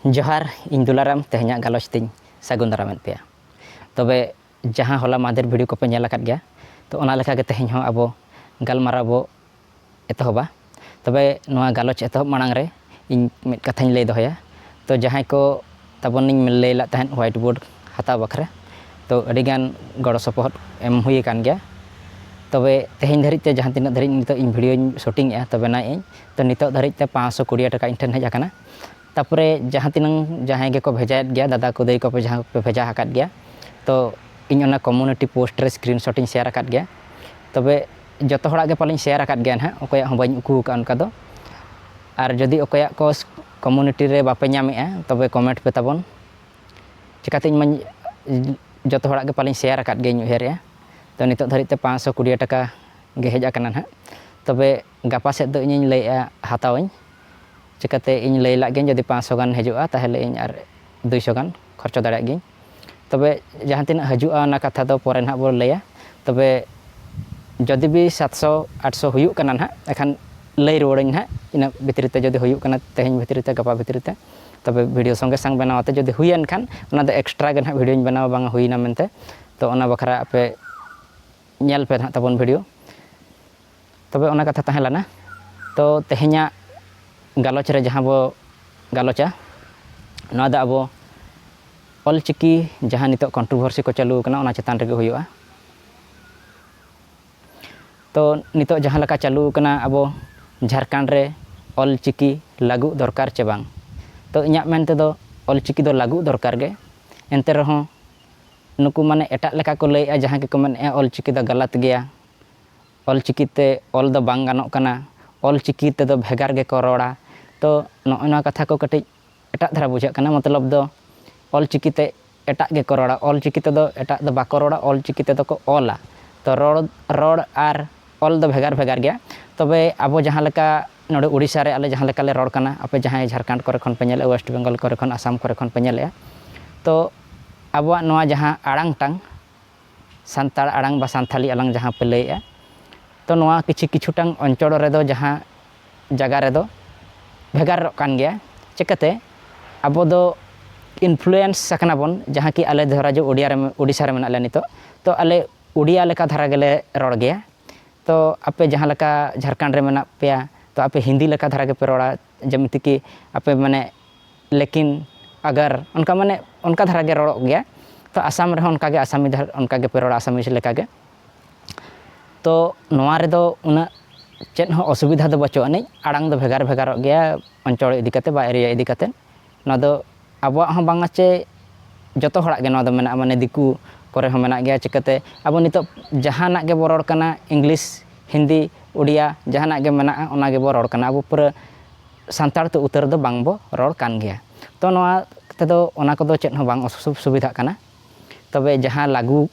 ᱡᱚᱦᱟᱨ ᱤᱧ ᱫᱩᱞᱟᱨᱟᱢ ᱛᱮᱦᱮᱧᱟᱜ ᱜᱟᱞᱚᱪ ᱛᱤᱧ ᱥᱟᱹᱜᱩᱱ ᱫᱟᱨᱟᱢ ᱮᱫ ᱯᱮᱭᱟ ᱛᱚᱵᱮ ᱡᱟᱦᱟᱸ ᱦᱚᱞᱟ ᱢᱟᱫᱷᱮᱨ ᱵᱷᱤᱰᱤᱭᱳ ᱠᱚᱯᱮ ᱧᱮᱞ ᱟᱠᱟᱫ ᱜᱮᱭᱟ ᱛᱚ ᱚᱱᱟ ᱞᱮᱠᱟ ᱜᱮ ᱛᱮᱦᱮᱧ ᱦᱚᱸ ᱟᱵᱚ ᱜᱟᱞᱢᱟᱨᱟᱣ ᱵᱚ ᱮᱛᱚᱦᱚᱵᱟ ᱛᱚᱵᱮ ᱱᱚᱣᱟ ᱜᱟᱞᱚᱪ ᱮᱛᱚᱦᱚᱵ ᱢᱟᱲᱟᱝ ᱨᱮ ᱤᱧ ᱢᱤᱫ ᱠᱟᱛᱷᱟᱧ ᱞᱟᱹᱭ ᱫᱚᱦᱚᱭᱟ ᱛᱚ ᱡᱟᱦᱟᱸᱭ ᱠᱚ ᱛᱟᱵᱚᱱᱤᱧ ᱞᱟᱹᱭ ᱞᱮᱫ ᱛᱟᱦᱮᱸᱫ ᱦᱳᱣᱟᱭᱤᱴ ᱵᱳᱨᱰ ᱦᱟᱛᱟᱣ ᱵᱟᱠᱷᱨᱟ ᱛᱚ ᱟᱹᱰᱤ ᱜᱟᱱ ᱜᱚᱲᱚ ᱥᱚᱯᱚᱦᱚᱫ ᱮᱢ ᱦᱩᱭ ᱟᱠᱟᱱ ᱜᱮᱭᱟ ᱛᱚᱵᱮ ᱛᱮᱦᱮᱧ ᱫᱷᱟᱹᱨᱤᱡ ᱛᱮ ᱡᱟᱦᱟᱸ ᱛᱤᱱᱟᱹᱜ ᱫᱷᱟᱹᱨᱤᱡ ᱱᱤᱛᱚᱜ ᱤᱧ ᱵᱷᱤᱰᱭᱳᱧ ᱥᱩᱴᱤᱝ ᱮᱫᱟ ᱛᱚᱵᱮ ᱱᱟᱜ ᱤᱧ ᱛᱚ ᱱᱤᱛᱚᱜ ᱫᱷᱟᱹᱨᱤᱡ ᱛᱮ ᱯᱟᱸᱪᱥᱚ ᱠᱩᱲᱤ ᱦᱟᱡᱟᱨ ᱴᱟᱠᱟ ᱤᱧ ᱴᱷᱮᱱ ᱦᱮᱡ ᱟᱠᱟᱱᱟ ᱛᱟᱨᱯᱚᱨᱮ ᱡᱟᱦᱟᱸ ᱛᱤᱱᱟᱹᱝ ᱡᱟᱦᱟᱸᱭ ᱜᱮᱠᱚ ᱵᱷᱮᱡᱟᱭᱮᱫ ᱜᱮᱭᱟ ᱫᱟᱫᱟ ᱠᱚ ᱫᱟᱹᱭ ᱠᱚ ᱡᱟᱦᱟᱸᱭ ᱠᱚᱯᱮ ᱵᱷᱮᱡᱟ ᱟᱠᱟᱫ ᱜᱮᱭᱟ ᱛᱚ ᱤᱧ ᱚᱱᱟ ᱠᱚᱢᱤᱭᱩᱱᱤᱴᱤ ᱯᱳᱥᱴ ᱨᱮ ᱥᱠᱨᱤᱱ ᱥᱚᱴ ᱤᱧ ᱥᱮᱭᱟᱨ ᱟᱠᱟᱫ ᱜᱮᱭᱟ ᱛᱚᱵᱮ ᱡᱚᱛᱚ ᱦᱚᱲᱟᱜ ᱜᱮ ᱯᱟᱞᱮᱧ ᱥᱮᱭᱟᱨ ᱟᱠᱟᱫ ᱜᱮᱭᱟ ᱦᱟᱸᱜ ᱚᱠᱚᱭᱟᱜ ᱦᱚᱸ ᱵᱟᱹᱧ ᱩᱠᱩ ᱟᱠᱟᱫᱼᱟ ᱚᱱᱠᱟ ᱫᱚ ᱟᱨ ᱡᱩᱫᱤ ᱚᱠᱚᱭᱟᱜ ᱠᱚ ᱠᱚᱢᱤᱭᱩᱱᱤᱴᱤ ᱨᱮ ᱵᱟᱯᱮ ᱧᱟᱢᱮᱫᱼᱟ ᱛᱚᱵᱮ ᱠᱚᱢᱮᱱᱴ ᱯᱮ ᱛᱟᱵᱚᱱ ᱪᱤᱠᱟᱹᱛᱮ ᱤᱧ ᱢᱟᱧ ᱡᱚᱛᱚ ᱦᱚᱲᱟᱜ ᱜᱮ ᱯᱟᱞᱮᱧ ᱥᱮᱭᱟᱨ ᱟᱠᱟᱫ ᱜᱮᱭᱟᱧ ᱩᱭᱦᱟᱹᱨᱮᱫᱼᱟ ᱛᱚ ᱱᱤᱛᱚᱜ ᱫᱷᱟᱹᱨᱤᱡ ᱛᱮ ᱯᱟᱸᱪᱥᱚ ᱠᱩᱲᱤ ᱦᱟᱡᱟᱨ ᱴᱟᱠᱟ ᱜᱮ ᱦᱮᱡ ᱟᱠᱟᱱᱟ ᱦᱟᱸᱜ ᱛᱚᱵᱮ ᱜᱟᱯᱟ ᱥᱮᱫ ᱫᱚ ᱤᱧᱤᱧ ᱞᱟᱹᱭᱮᱫᱼᱟ ᱦᱟᱛᱟᱣ ᱟᱹᱧ ᱪᱤᱠᱟᱹᱛᱮ ᱤᱧ ᱞᱟᱹᱭ ᱞᱟᱜ ᱜᱤᱭᱟᱹᱧ ᱡᱩᱫᱤ ᱯᱟᱸᱪᱥᱚ ᱜᱟᱱ ᱦᱤᱡᱩᱜᱼᱟ ᱛᱟᱦᱚᱞᱮ ᱤᱧ ᱟᱨ ᱫᱩᱭᱥᱚ ᱜᱟᱱ ᱠᱷᱚᱨᱪᱟ ᱫᱟᱲᱮᱭᱟᱜ ᱜᱤᱭᱟᱹᱧ ᱛᱚᱵᱮ ᱡᱟᱦᱟᱸ ᱛᱤᱱᱟᱹᱜ ᱦᱤᱡᱩᱜᱼᱟ ᱚᱱᱟ ᱠᱟᱛᱷᱟ ᱫᱚ ᱯᱚᱨᱮ ᱱᱟᱦᱟᱜ ᱵᱚᱱ ᱞᱟᱹᱭᱟ ᱛᱚᱵᱮ ᱡᱩᱫᱤ ᱵᱤ ᱥᱟᱛᱥᱚ ᱟᱴᱥᱚ ᱦᱩᱭᱩᱜ ᱠᱟᱱᱟ ᱱᱟᱦᱟᱜ ᱮᱱᱠᱷᱟᱱ ᱞᱟᱹᱭ ᱨᱩᱣᱟᱹᱲ ᱟᱹᱧ ᱱᱟᱦᱟᱜ ᱤᱱᱟᱹ ᱵᱷᱤᱛᱨᱤ ᱛᱮ ᱡᱩᱫᱤ ᱦᱩᱭᱩᱜ ᱠᱟᱱᱟ ᱛᱮᱦᱮᱧ ᱵᱷᱤᱛᱨᱤ ᱛᱮ ᱜᱟᱯᱟ ᱵᱷᱤᱛᱨᱤ ᱛᱮ ᱛᱚᱵᱮ ᱵᱷᱤᱰᱤᱭᱳ ᱥᱚᱸᱜᱮ ᱥᱚᱝ ᱵᱮᱱᱟᱣ ᱠᱟᱛᱮᱫ ᱡᱩᱫᱤ ᱦᱩᱭᱮᱱ ᱠᱷᱟᱱ ᱚᱱᱟ ᱫᱚ ᱮᱠᱥᱴᱨᱟ ᱜᱮ ᱱᱟᱦᱟᱜ ᱵᱷᱤᱰᱤᱭᱳᱧ ᱵᱮᱱᱟᱣᱟ ᱵᱟᱝ ᱦᱩᱭᱱᱟ ᱢᱮᱱᱛᱮ ᱛᱳ ᱚᱱᱟ ᱵᱟᱠᱷᱨᱟ ᱟᱯᱮ ᱧᱮᱞ ᱯᱮ ᱱᱟᱦᱟᱜ ᱛᱟᱵᱚᱱ ᱵᱷᱤᱰᱤᱭᱳ ᱛᱚᱵᱮ ᱚᱱᱟ ᱠᱟᱛᱷᱟ ᱛᱟᱦᱮᱸ ᱞᱮᱱᱟ ᱛᱚ ᱛᱮᱦᱮᱧᱟᱜ ᱜᱟᱞᱚᱪ ᱨᱮ ᱡᱟᱦᱟᱸ ᱵᱚ ᱜᱟᱞᱚᱪᱟ ᱱᱚᱣᱟ ᱫᱚ ᱟᱵᱚ ᱚᱞ ᱪᱤᱠᱤ ᱡᱟᱦᱟᱸ ᱱᱤᱛᱚᱜ ᱠᱚᱱᱴᱨᱳᱵᱷᱟᱨᱥᱤ ᱠᱚ ᱪᱟᱹᱞᱩ ᱟᱠᱟᱱᱟ ᱚᱱᱟ ᱪᱮᱛᱟᱱ ᱨᱮᱜᱮ ᱦᱩᱭᱩᱜᱼᱟ ᱛᱚ ᱱᱤᱛᱚᱜ ᱡᱟᱦᱟᱸ ᱞᱮᱠᱟ ᱪᱟᱹᱞᱩ ᱟᱠᱟᱱᱟ ᱟᱵᱚ ᱡᱷᱟᱲᱠᱷᱚᱸᱰ ᱨᱮ ᱚᱞ ᱪᱤᱠᱤ ᱞᱟᱹᱜᱩ ᱫᱚᱨᱠᱟᱨ ᱪᱮ ᱵᱟᱝ ᱛᱚ ᱤᱧᱟᱹᱜ ᱢᱮᱱ ᱛᱮᱫᱚ ᱚᱞ ᱪᱤᱠᱤ ᱫᱚ ᱞᱟᱹᱜᱩ ᱫᱚᱨᱠᱟᱨ ᱜᱮ ᱮᱱᱛᱮ ᱨᱮᱦᱚᱸ ᱱᱩᱠᱩ ᱢᱟᱱᱮ ᱮᱴᱟᱜ ᱞᱮᱠᱟ ᱠᱚ ᱞᱟᱹᱭᱮᱫᱼᱟ ᱡᱟᱦᱟᱸᱭ ᱠᱚᱠᱚ ᱢᱮᱱᱮᱫᱼᱟ ᱚᱞ ᱪᱤᱠᱤ ᱫᱚ ᱜᱟᱞᱟᱛ ᱜᱮᱭᱟ ᱚᱞᱪᱤᱠᱤ ᱛᱮ ᱚᱞ ᱫᱚ ᱵᱟᱝ ᱜᱟᱱᱚᱜ ᱠᱟᱱᱟ ᱚᱞᱪᱤᱠᱤ ᱛᱮᱫᱚ ᱵᱷᱮᱜᱟᱨ ᱜᱮᱠᱚ ᱨᱚᱲᱟ ᱛᱚ ᱱᱚᱜᱼᱚᱸᱭ ᱱᱚᱣᱟ ᱠᱟᱛᱷᱟ ᱠᱚ ᱠᱟᱹᱴᱤᱡ ᱮᱴᱟᱜ ᱫᱷᱟᱨᱟ ᱵᱩᱡᱷᱟᱹᱜ ᱠᱟᱱᱟ ᱢᱚᱛᱞᱚᱵ ᱫᱚ ᱚᱞᱪᱤᱠᱤ ᱛᱮ ᱮᱴᱟᱜ ᱜᱮᱠᱚ ᱨᱚᱲᱟ ᱚᱞᱪᱤᱠᱤ ᱛᱮᱫᱚ ᱮᱴᱟᱜ ᱫᱚ ᱵᱟᱠᱚ ᱨᱚᱲᱟ ᱚᱞᱪᱤᱠᱤ ᱛᱮᱫᱚ ᱠᱚ ᱚᱞᱟ ᱛᱚ ᱨᱚᱲ ᱨᱚᱲ ᱟᱨ ᱚᱞ ᱫᱚ ᱵᱷᱮᱜᱟᱨ ᱵᱷᱮᱜᱟᱨ ᱜᱮᱭᱟ ᱛᱚᱵᱮ ᱟᱵᱚ ᱡᱟᱦᱟᱸ ᱞᱮᱠᱟ ᱱᱚᱰᱮ ᱳᱰᱤᱥᱟ ᱨᱮ ᱟᱞᱮ ᱡᱟᱦᱟᱸ ᱞᱮᱠᱟ ᱞᱮ ᱨᱚᱲ ᱠᱟᱱᱟ ᱟᱯᱮ ᱡᱟᱦᱟᱸᱭ ᱡᱷᱟᱲᱠᱷᱚᱸᱰ ᱠᱚᱨᱮ ᱠᱷᱚᱱ ᱯᱮ ᱧᱮᱞᱮᱜᱼᱟ ᱳᱭᱮᱥᱴ ᱵᱮᱝᱜᱚᱞ ᱠᱚᱨᱮ ᱠᱷᱚᱱ ᱟᱥᱟᱢ ᱠᱚᱨᱮ ᱠᱷᱚᱱ ᱯᱮ ᱧᱮᱞᱮᱜᱼᱟ ᱛᱚ ᱟᱵᱚᱣᱟᱜ ᱱᱚᱣᱟ ᱡᱟᱦᱟᱸ ᱟᱲᱟᱝ ᱛᱟᱝ ᱥᱟᱱᱛᱟᱲ ᱟᱲᱟᱝ ᱵᱟ ᱥᱟᱱᱛᱷᱟᱞᱤ ᱟᱞᱟᱝ ᱡᱟᱦᱟᱸ ᱯᱮ ᱞᱟᱹᱭᱮᱜᱼᱟ ᱛᱚ ᱱᱚᱣᱟ ᱠᱤᱪᱷᱩ ᱠᱤᱪᱷᱩ ᱴᱟᱝ ᱚᱧᱪᱚᱲ ᱨᱮᱫᱚ ᱡᱟᱦᱟᱸ ᱡᱟᱭᱜᱟ ᱨᱮᱫᱚ ᱵᱷᱮᱜᱟᱨᱚᱜ ᱠᱟᱱ ᱜᱮᱭᱟ ᱪᱤᱠᱟᱹᱛᱮ ᱟᱵᱚ ᱫᱚ ᱤᱱᱯᱷᱞᱩᱭᱮᱱᱥ ᱟᱠᱟᱱᱟ ᱵᱚᱱ ᱡᱟᱦᱟᱸ ᱠᱤ ᱟᱞᱮ ᱫᱷᱚᱨᱟ ᱡᱮ ᱳᱰᱤᱭᱟ ᱨᱮ ᱳᱰᱤᱥᱟ ᱨᱮ ᱢᱮᱱᱟᱜ ᱞᱮᱭᱟ ᱱᱤᱛᱚᱜ ᱛᱚ ᱟᱞᱮ ᱳᱰᱤᱭᱟ ᱞᱮᱠᱟ ᱫᱷᱟᱨᱟ ᱜᱮᱞᱮ ᱨᱚᱲ ᱜᱮᱭᱟ ᱛᱚ ᱟᱯᱮ ᱡᱟᱦᱟᱸ ᱞᱮᱠᱟ ᱡᱷᱟᱲᱠᱷᱚᱸᱰ ᱨᱮ ᱢᱮᱱᱟᱜ ᱯᱮᱭᱟ ᱛᱚ ᱟᱯᱮ ᱦᱤᱱᱫᱤ ᱞᱮᱠᱟ ᱫᱷᱟᱨᱟ ᱜᱮᱯᱮ ᱨᱚᱲᱟ ᱡᱮᱢᱛᱤ ᱠᱤ ᱟᱯᱮ ᱢᱟᱱᱮ ᱞᱮᱠᱤᱱ ᱟᱜᱟᱨ ᱚᱱᱠᱟ ᱢᱟᱱᱮ ᱚᱱᱠᱟ ᱫᱷᱟᱨᱟ ᱜᱮ ᱨᱚᱲᱚᱜ ᱜᱮᱭᱟ ᱛᱚ ᱟᱥᱟᱢ ᱨᱮᱦᱚᱸ ᱚᱱᱠᱟ ᱜᱮ ᱟᱥᱟᱢᱤ ᱫᱷᱟᱨᱟ ᱚᱱᱠᱟ ᱜᱮᱯᱮ ᱨᱚᱲᱟ ᱟᱥᱟᱢᱤᱡᱽ ᱞᱮᱠᱟ ᱜᱮ ᱛᱚ ᱱᱚᱣᱟ ᱨᱮᱫᱚ ᱩᱱᱟᱹᱜ ᱪᱮᱫ ᱦᱚᱸ ᱚᱥᱩᱵᱤᱫᱷᱟ ᱫᱚ ᱵᱟᱹᱪᱩᱜ ᱟᱹᱱᱤᱡ ᱟᱲᱟᱝ ᱫᱚ ᱵᱷᱮᱜᱟᱨ ᱵᱷᱮᱜᱟᱨᱚᱜ ᱜᱮᱭᱟ ᱚᱧᱪᱚᱲ ᱤᱫᱤ ᱠᱟᱛᱮ ᱵᱟ ᱮᱨᱤᱭᱟ ᱤᱫᱤ ᱠᱟᱛᱮ ᱱᱚᱣᱟ ᱫᱚ ᱟᱵᱚᱣᱟᱜ ᱦᱚᱸ ᱵᱟᱝᱟ ᱪᱮ ᱡᱚᱛᱚ ᱦᱚᱲᱟᱜ ᱜᱮ ᱱᱚᱣᱟ ᱫᱚ ᱢᱮᱱᱟᱜᱼᱟ ᱢᱟᱱᱮ ᱫᱤᱠᱩ ᱠᱚᱨᱮ ᱦᱚᱸ ᱢᱮᱱᱟᱜ ᱜᱮᱭᱟ ᱪᱤᱠᱟᱹᱛᱮ ᱟᱵᱚ ᱱᱤᱛᱚᱜ ᱡᱟᱦᱟᱱᱟᱜ ᱜᱮᱵᱚᱱ ᱨᱚᱲ ᱠᱟᱱᱟ ᱤᱝᱞᱤᱥ ᱦᱤᱱᱫᱤ ᱩᱰᱤᱭᱟ ᱡᱟᱦᱟᱱᱟᱜ ᱜᱮ ᱢᱮᱱᱟᱜᱼᱟ ᱚᱱᱟ ᱜᱮᱵᱚᱱ ᱨᱚᱲ ᱠᱟᱱᱟ ᱟᱵᱚ ᱯᱩᱨᱟᱹ ᱥᱟᱱᱛᱟᱲ ᱛᱮ ᱩᱛᱟᱹᱨ ᱫᱚ ᱵᱟᱝ ᱵᱚᱱ ᱨᱚᱲ ᱠᱟᱱ ᱜᱮᱭᱟ ᱛᱚ ᱱᱚᱣᱟ ᱛᱮᱫᱚ ᱚᱱᱟ ᱠᱚᱫᱚ ᱪᱮᱫ ᱦᱚᱸ ᱵᱟᱝ ᱚᱥᱩᱵᱤᱫᱷᱟᱜ ᱠᱟᱱᱟ ᱛᱚᱵᱮ ᱡᱟᱦᱟᱸ ᱞᱟᱹᱜᱩ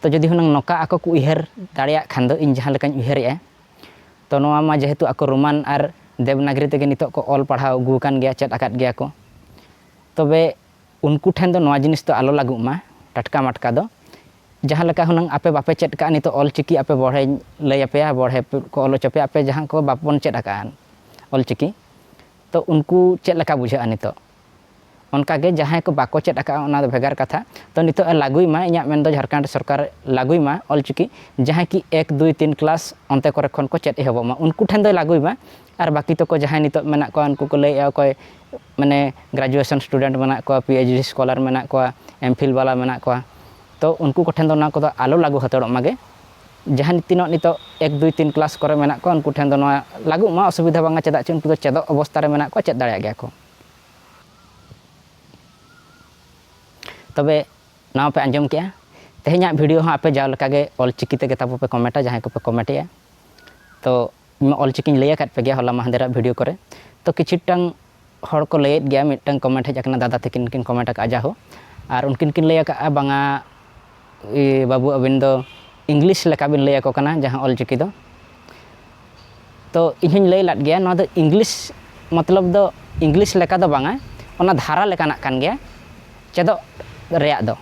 ᱛᱚ ᱡᱩᱫᱤ ᱦᱩᱱᱟᱹᱝ ᱱᱚᱠᱟ ᱟᱠᱚ ᱠᱚ ᱩᱭᱦᱟᱹᱨ ᱫᱟᱲᱮᱭᱟᱜ ᱠᱷᱟᱱ ᱫᱚ ᱤᱧ ᱡᱟᱦᱟᱸ ᱞᱮᱠᱟᱧ ᱩᱭᱦᱟᱹᱨᱮᱜᱼᱟ ᱛᱚ ᱱᱚᱣᱟ ᱢᱟ ᱡᱮᱦᱮᱛᱩ ᱟᱠᱚ ᱨᱳᱢᱟᱱ ᱟᱨ ᱫᱮᱵᱽᱱᱟᱜᱽᱨᱤ ᱛᱮᱜᱮ ᱱᱤᱛᱚᱜ ᱠᱚ ᱚᱞ ᱯᱟᱲᱦᱟᱣ ᱟᱹᱜᱩ ᱟᱠᱟᱱ ᱜᱮᱭᱟ ᱪᱮᱫ ᱟᱠᱟᱫ ᱜᱮᱭᱟ ᱠᱚ ᱛᱚᱵᱮ ᱩᱱᱠᱩ ᱴᱷᱮᱱ ᱫᱚ ᱱᱚᱣᱟ ᱡᱤᱱᱤᱥ ᱫᱚ ᱟᱞᱚ ᱞᱟᱜᱩᱜ ᱢᱟ ᱴᱟᱴᱠᱟ ᱢᱟᱴᱠᱟ ᱫᱚ ᱡᱟᱦᱟᱸ ᱞᱮᱠᱟ ᱦᱩᱱᱟᱹᱝ ᱟᱯᱮ ᱵᱟᱯᱮ ᱪᱮᱫ ᱟᱠᱟᱫᱼᱟ ᱱᱤᱛᱚᱜ ᱚᱞ ᱪᱤᱠᱤ ᱟᱯᱮ ᱵᱚᱲᱦᱮᱧ ᱞᱟᱹᱭ ᱟᱯᱮᱭᱟ ᱵᱚᱲᱦᱮ ᱠᱚ ᱚᱞ ᱦᱚᱪᱚ ᱯᱮᱭᱟ ᱟᱯᱮ ᱡᱟᱦᱟᱸ ᱠᱚ ᱵᱟᱵᱚᱱ ᱪᱮᱫ ᱟᱠᱟᱫᱼᱟ ᱚᱞ ᱪᱤᱠᱤ ᱛᱚ ᱩᱱᱠᱩ ᱪᱮᱫ ᱞᱮᱠᱟ ᱵᱩᱡᱷᱟᱹᱜᱼᱟ ᱱᱤᱛᱚᱜ ᱚᱱᱠᱟ ᱜᱮ ᱡᱟᱦᱟᱸᱭ ᱠᱚ ᱵᱟᱠᱚ ᱪᱮᱫ ᱟᱠᱟᱫᱼᱟ ᱚᱱᱟ ᱫᱚ ᱵᱷᱮᱜᱟᱨ ᱠᱟᱛᱷᱟ ᱛᱚ ᱱᱤᱛᱚᱜ ᱮ ᱞᱟᱹᱜᱩᱭ ᱢᱟ ᱤᱧᱟᱹᱜ ᱢᱮᱱ ᱫᱚ ᱡᱷᱟᱲᱠᱷᱚᱸᱰ ᱥᱚᱨᱠᱟᱨ ᱞᱟᱹᱜᱩᱭ ᱢᱟ ᱚᱞ ᱪᱤᱠᱤ ᱡᱟᱦᱟᱸᱭ ᱠᱤ ᱮᱠ ᱫᱩᱭ ᱛᱤᱱ ᱠᱞᱟᱥ ᱚᱱᱛᱮ ᱠᱚᱨᱮ ᱠᱷᱚᱱ ᱠᱚ ᱪᱮᱫ ᱮᱦᱚᱵᱚᱜ ᱢᱟ ᱩᱱᱠᱩ ᱴᱷᱮᱱ ᱫᱚᱭ ᱞᱟᱹᱜᱩᱭ ᱢᱟ ᱟᱨ ᱵᱟᱹᱠᱤ ᱛᱚᱠᱚ ᱡᱟᱦᱟᱸᱭ ᱱᱤᱛᱚᱜ ᱢᱮᱱᱟᱜ ᱠᱚᱣᱟ ᱩᱱᱠᱩ ᱠᱚ ᱞᱟᱹᱭᱮᱫᱼᱟ ᱚᱠᱚᱭ ᱢᱟᱱᱮ ᱜᱨᱮᱡᱩᱭᱮᱥᱚᱱ ᱥᱴᱩᱰᱮᱱᱴ ᱢᱮᱱᱟᱜ ᱠᱚᱣᱟ ᱯᱤ ᱮᱭᱤᱪ ᱰᱤ ᱥᱠᱚᱞᱟᱨ ᱢᱮᱱᱟᱜ ᱠᱚᱣᱟ ᱮᱢ ᱯᱷᱤᱞ ᱵᱟᱞᱟ ᱢᱮᱱᱟᱜ ᱠᱚᱣᱟ ᱛᱚ ᱩᱱᱠᱩ ᱠᱚᱴᱷᱮᱱ ᱫᱚ ᱚᱱᱟ ᱠᱚᱫᱚ ᱟᱞᱚ ᱞᱟᱹᱜᱩ ᱦᱟᱛᱟᱲᱚᱜ ᱢᱟᱜᱮ ᱡᱟᱦᱟᱸᱭ ᱛᱤᱱᱟᱹᱜ ᱱᱤᱛᱚᱜ ᱮᱠ ᱫᱩᱭ ᱛᱤᱱ ᱠᱞᱟᱥ ᱠᱚᱨᱮ ᱢᱮᱱᱟᱜ ᱠᱚᱣᱟ ᱩᱱᱠᱩ ᱴᱷᱮᱱ ᱫᱚ ᱱᱚᱣᱟ ᱞᱟᱹᱜᱩᱜ ᱢᱟ ᱚᱥᱩᱵᱤᱫᱷᱟ ᱵᱟᱝᱟ ᱪᱮᱫᱟᱜ ᱪᱮ ᱩᱱᱠᱩ ᱫᱚ ᱪᱮᱫᱚᱜ ᱚᱵᱚᱥᱛᱟ ᱨᱮ ᱢᱮᱱᱟᱜ ᱠᱚᱣᱟ ᱪᱮᱫ ᱫᱟᱲᱮᱭᱟᱜ ᱜᱮᱭᱟ ᱠᱚ ᱛᱚᱵᱮ ᱱᱚᱣᱟ ᱯᱮ ᱟᱸᱡᱚᱢ ᱠᱮᱜᱼᱟ ᱛᱮᱦᱮᱧᱟᱜ ᱵᱷᱤᱰᱤᱭᱳ ᱦᱚᱸ ᱟᱯᱮ ᱡᱟᱣ ᱞᱮᱠᱟᱜᱮ ᱚᱞᱪᱤᱠᱤ ᱛᱮᱜᱮ ᱛᱟᱵᱚ ᱯᱮ ᱠᱚᱢᱮᱱᱴᱟ ᱡᱟᱦᱟᱸᱭ ᱠᱚᱯᱮ ᱠᱚᱢᱮᱱᱴᱮᱜᱼᱟ ᱛᱚ ᱚᱞᱪᱤᱠᱤᱧ ᱞᱟᱹᱭ ᱟᱠᱟᱫ ᱯᱮ ᱜᱮᱭᱟ ᱦᱚᱞᱟ ᱢᱟᱦᱫᱮᱨᱟᱜ ᱵᱷᱤᱰᱤᱭᱳ ᱠᱚᱨᱮ ᱛᱚ ᱠᱤᱪᱷᱩᱴᱟᱝ ᱦᱚᱲ ᱠᱚ ᱞᱟᱹᱭᱮᱫ ᱜᱮᱭᱟ ᱢᱤᱫᱴᱟᱝ ᱠᱚᱢᱮᱱᱴ ᱦᱮᱡ ᱟᱠᱟᱱᱟ ᱫᱟᱫᱟ ᱛᱟᱹᱠᱤᱱ ᱠᱤᱱ ᱠᱚᱢᱮᱱᱴ ᱟᱠᱟᱫᱼᱟ ᱡᱟᱦᱳ ᱟᱨ ᱩᱱᱠᱤᱱ ᱠᱤᱱ ᱞᱟᱹᱭ ᱟᱠᱟᱫᱼᱟ ᱵᱟᱝᱟ ᱵᱟᱹᱵᱩ ᱟᱹᱵᱤᱱ ᱫᱚ ᱤᱝᱞᱤᱥ ᱞᱮᱠᱟ ᱵᱤᱱ ᱞᱟᱹᱭ ᱟᱠᱚ ᱠᱟᱱᱟ ᱡᱟᱦᱟᱸ ᱚᱞᱪᱤᱠᱤ ᱫᱚ ᱛᱚ ᱤᱧ ᱦᱚᱸᱧ ᱞᱟᱹᱭ ᱞᱮᱫ ᱜᱮᱭᱟ ᱱᱚᱣᱟ ᱫᱚ ᱤᱝᱞᱤᱥ ᱢᱚᱛᱞᱚᱵ ᱫᱚ ᱤᱝᱞᱤᱥ ᱞᱮᱠᱟ ᱫᱚ ᱵᱟᱝᱟ ᱚᱱᱟ ᱫᱷᱟᱨᱟ ᱞᱮᱠᱟᱱᱟᱜ ᱠᱟᱱ ᱜᱮᱭᱟ ᱪᱮᱫᱚᱜ ᱨᱮᱭᱟᱜ ᱫᱚ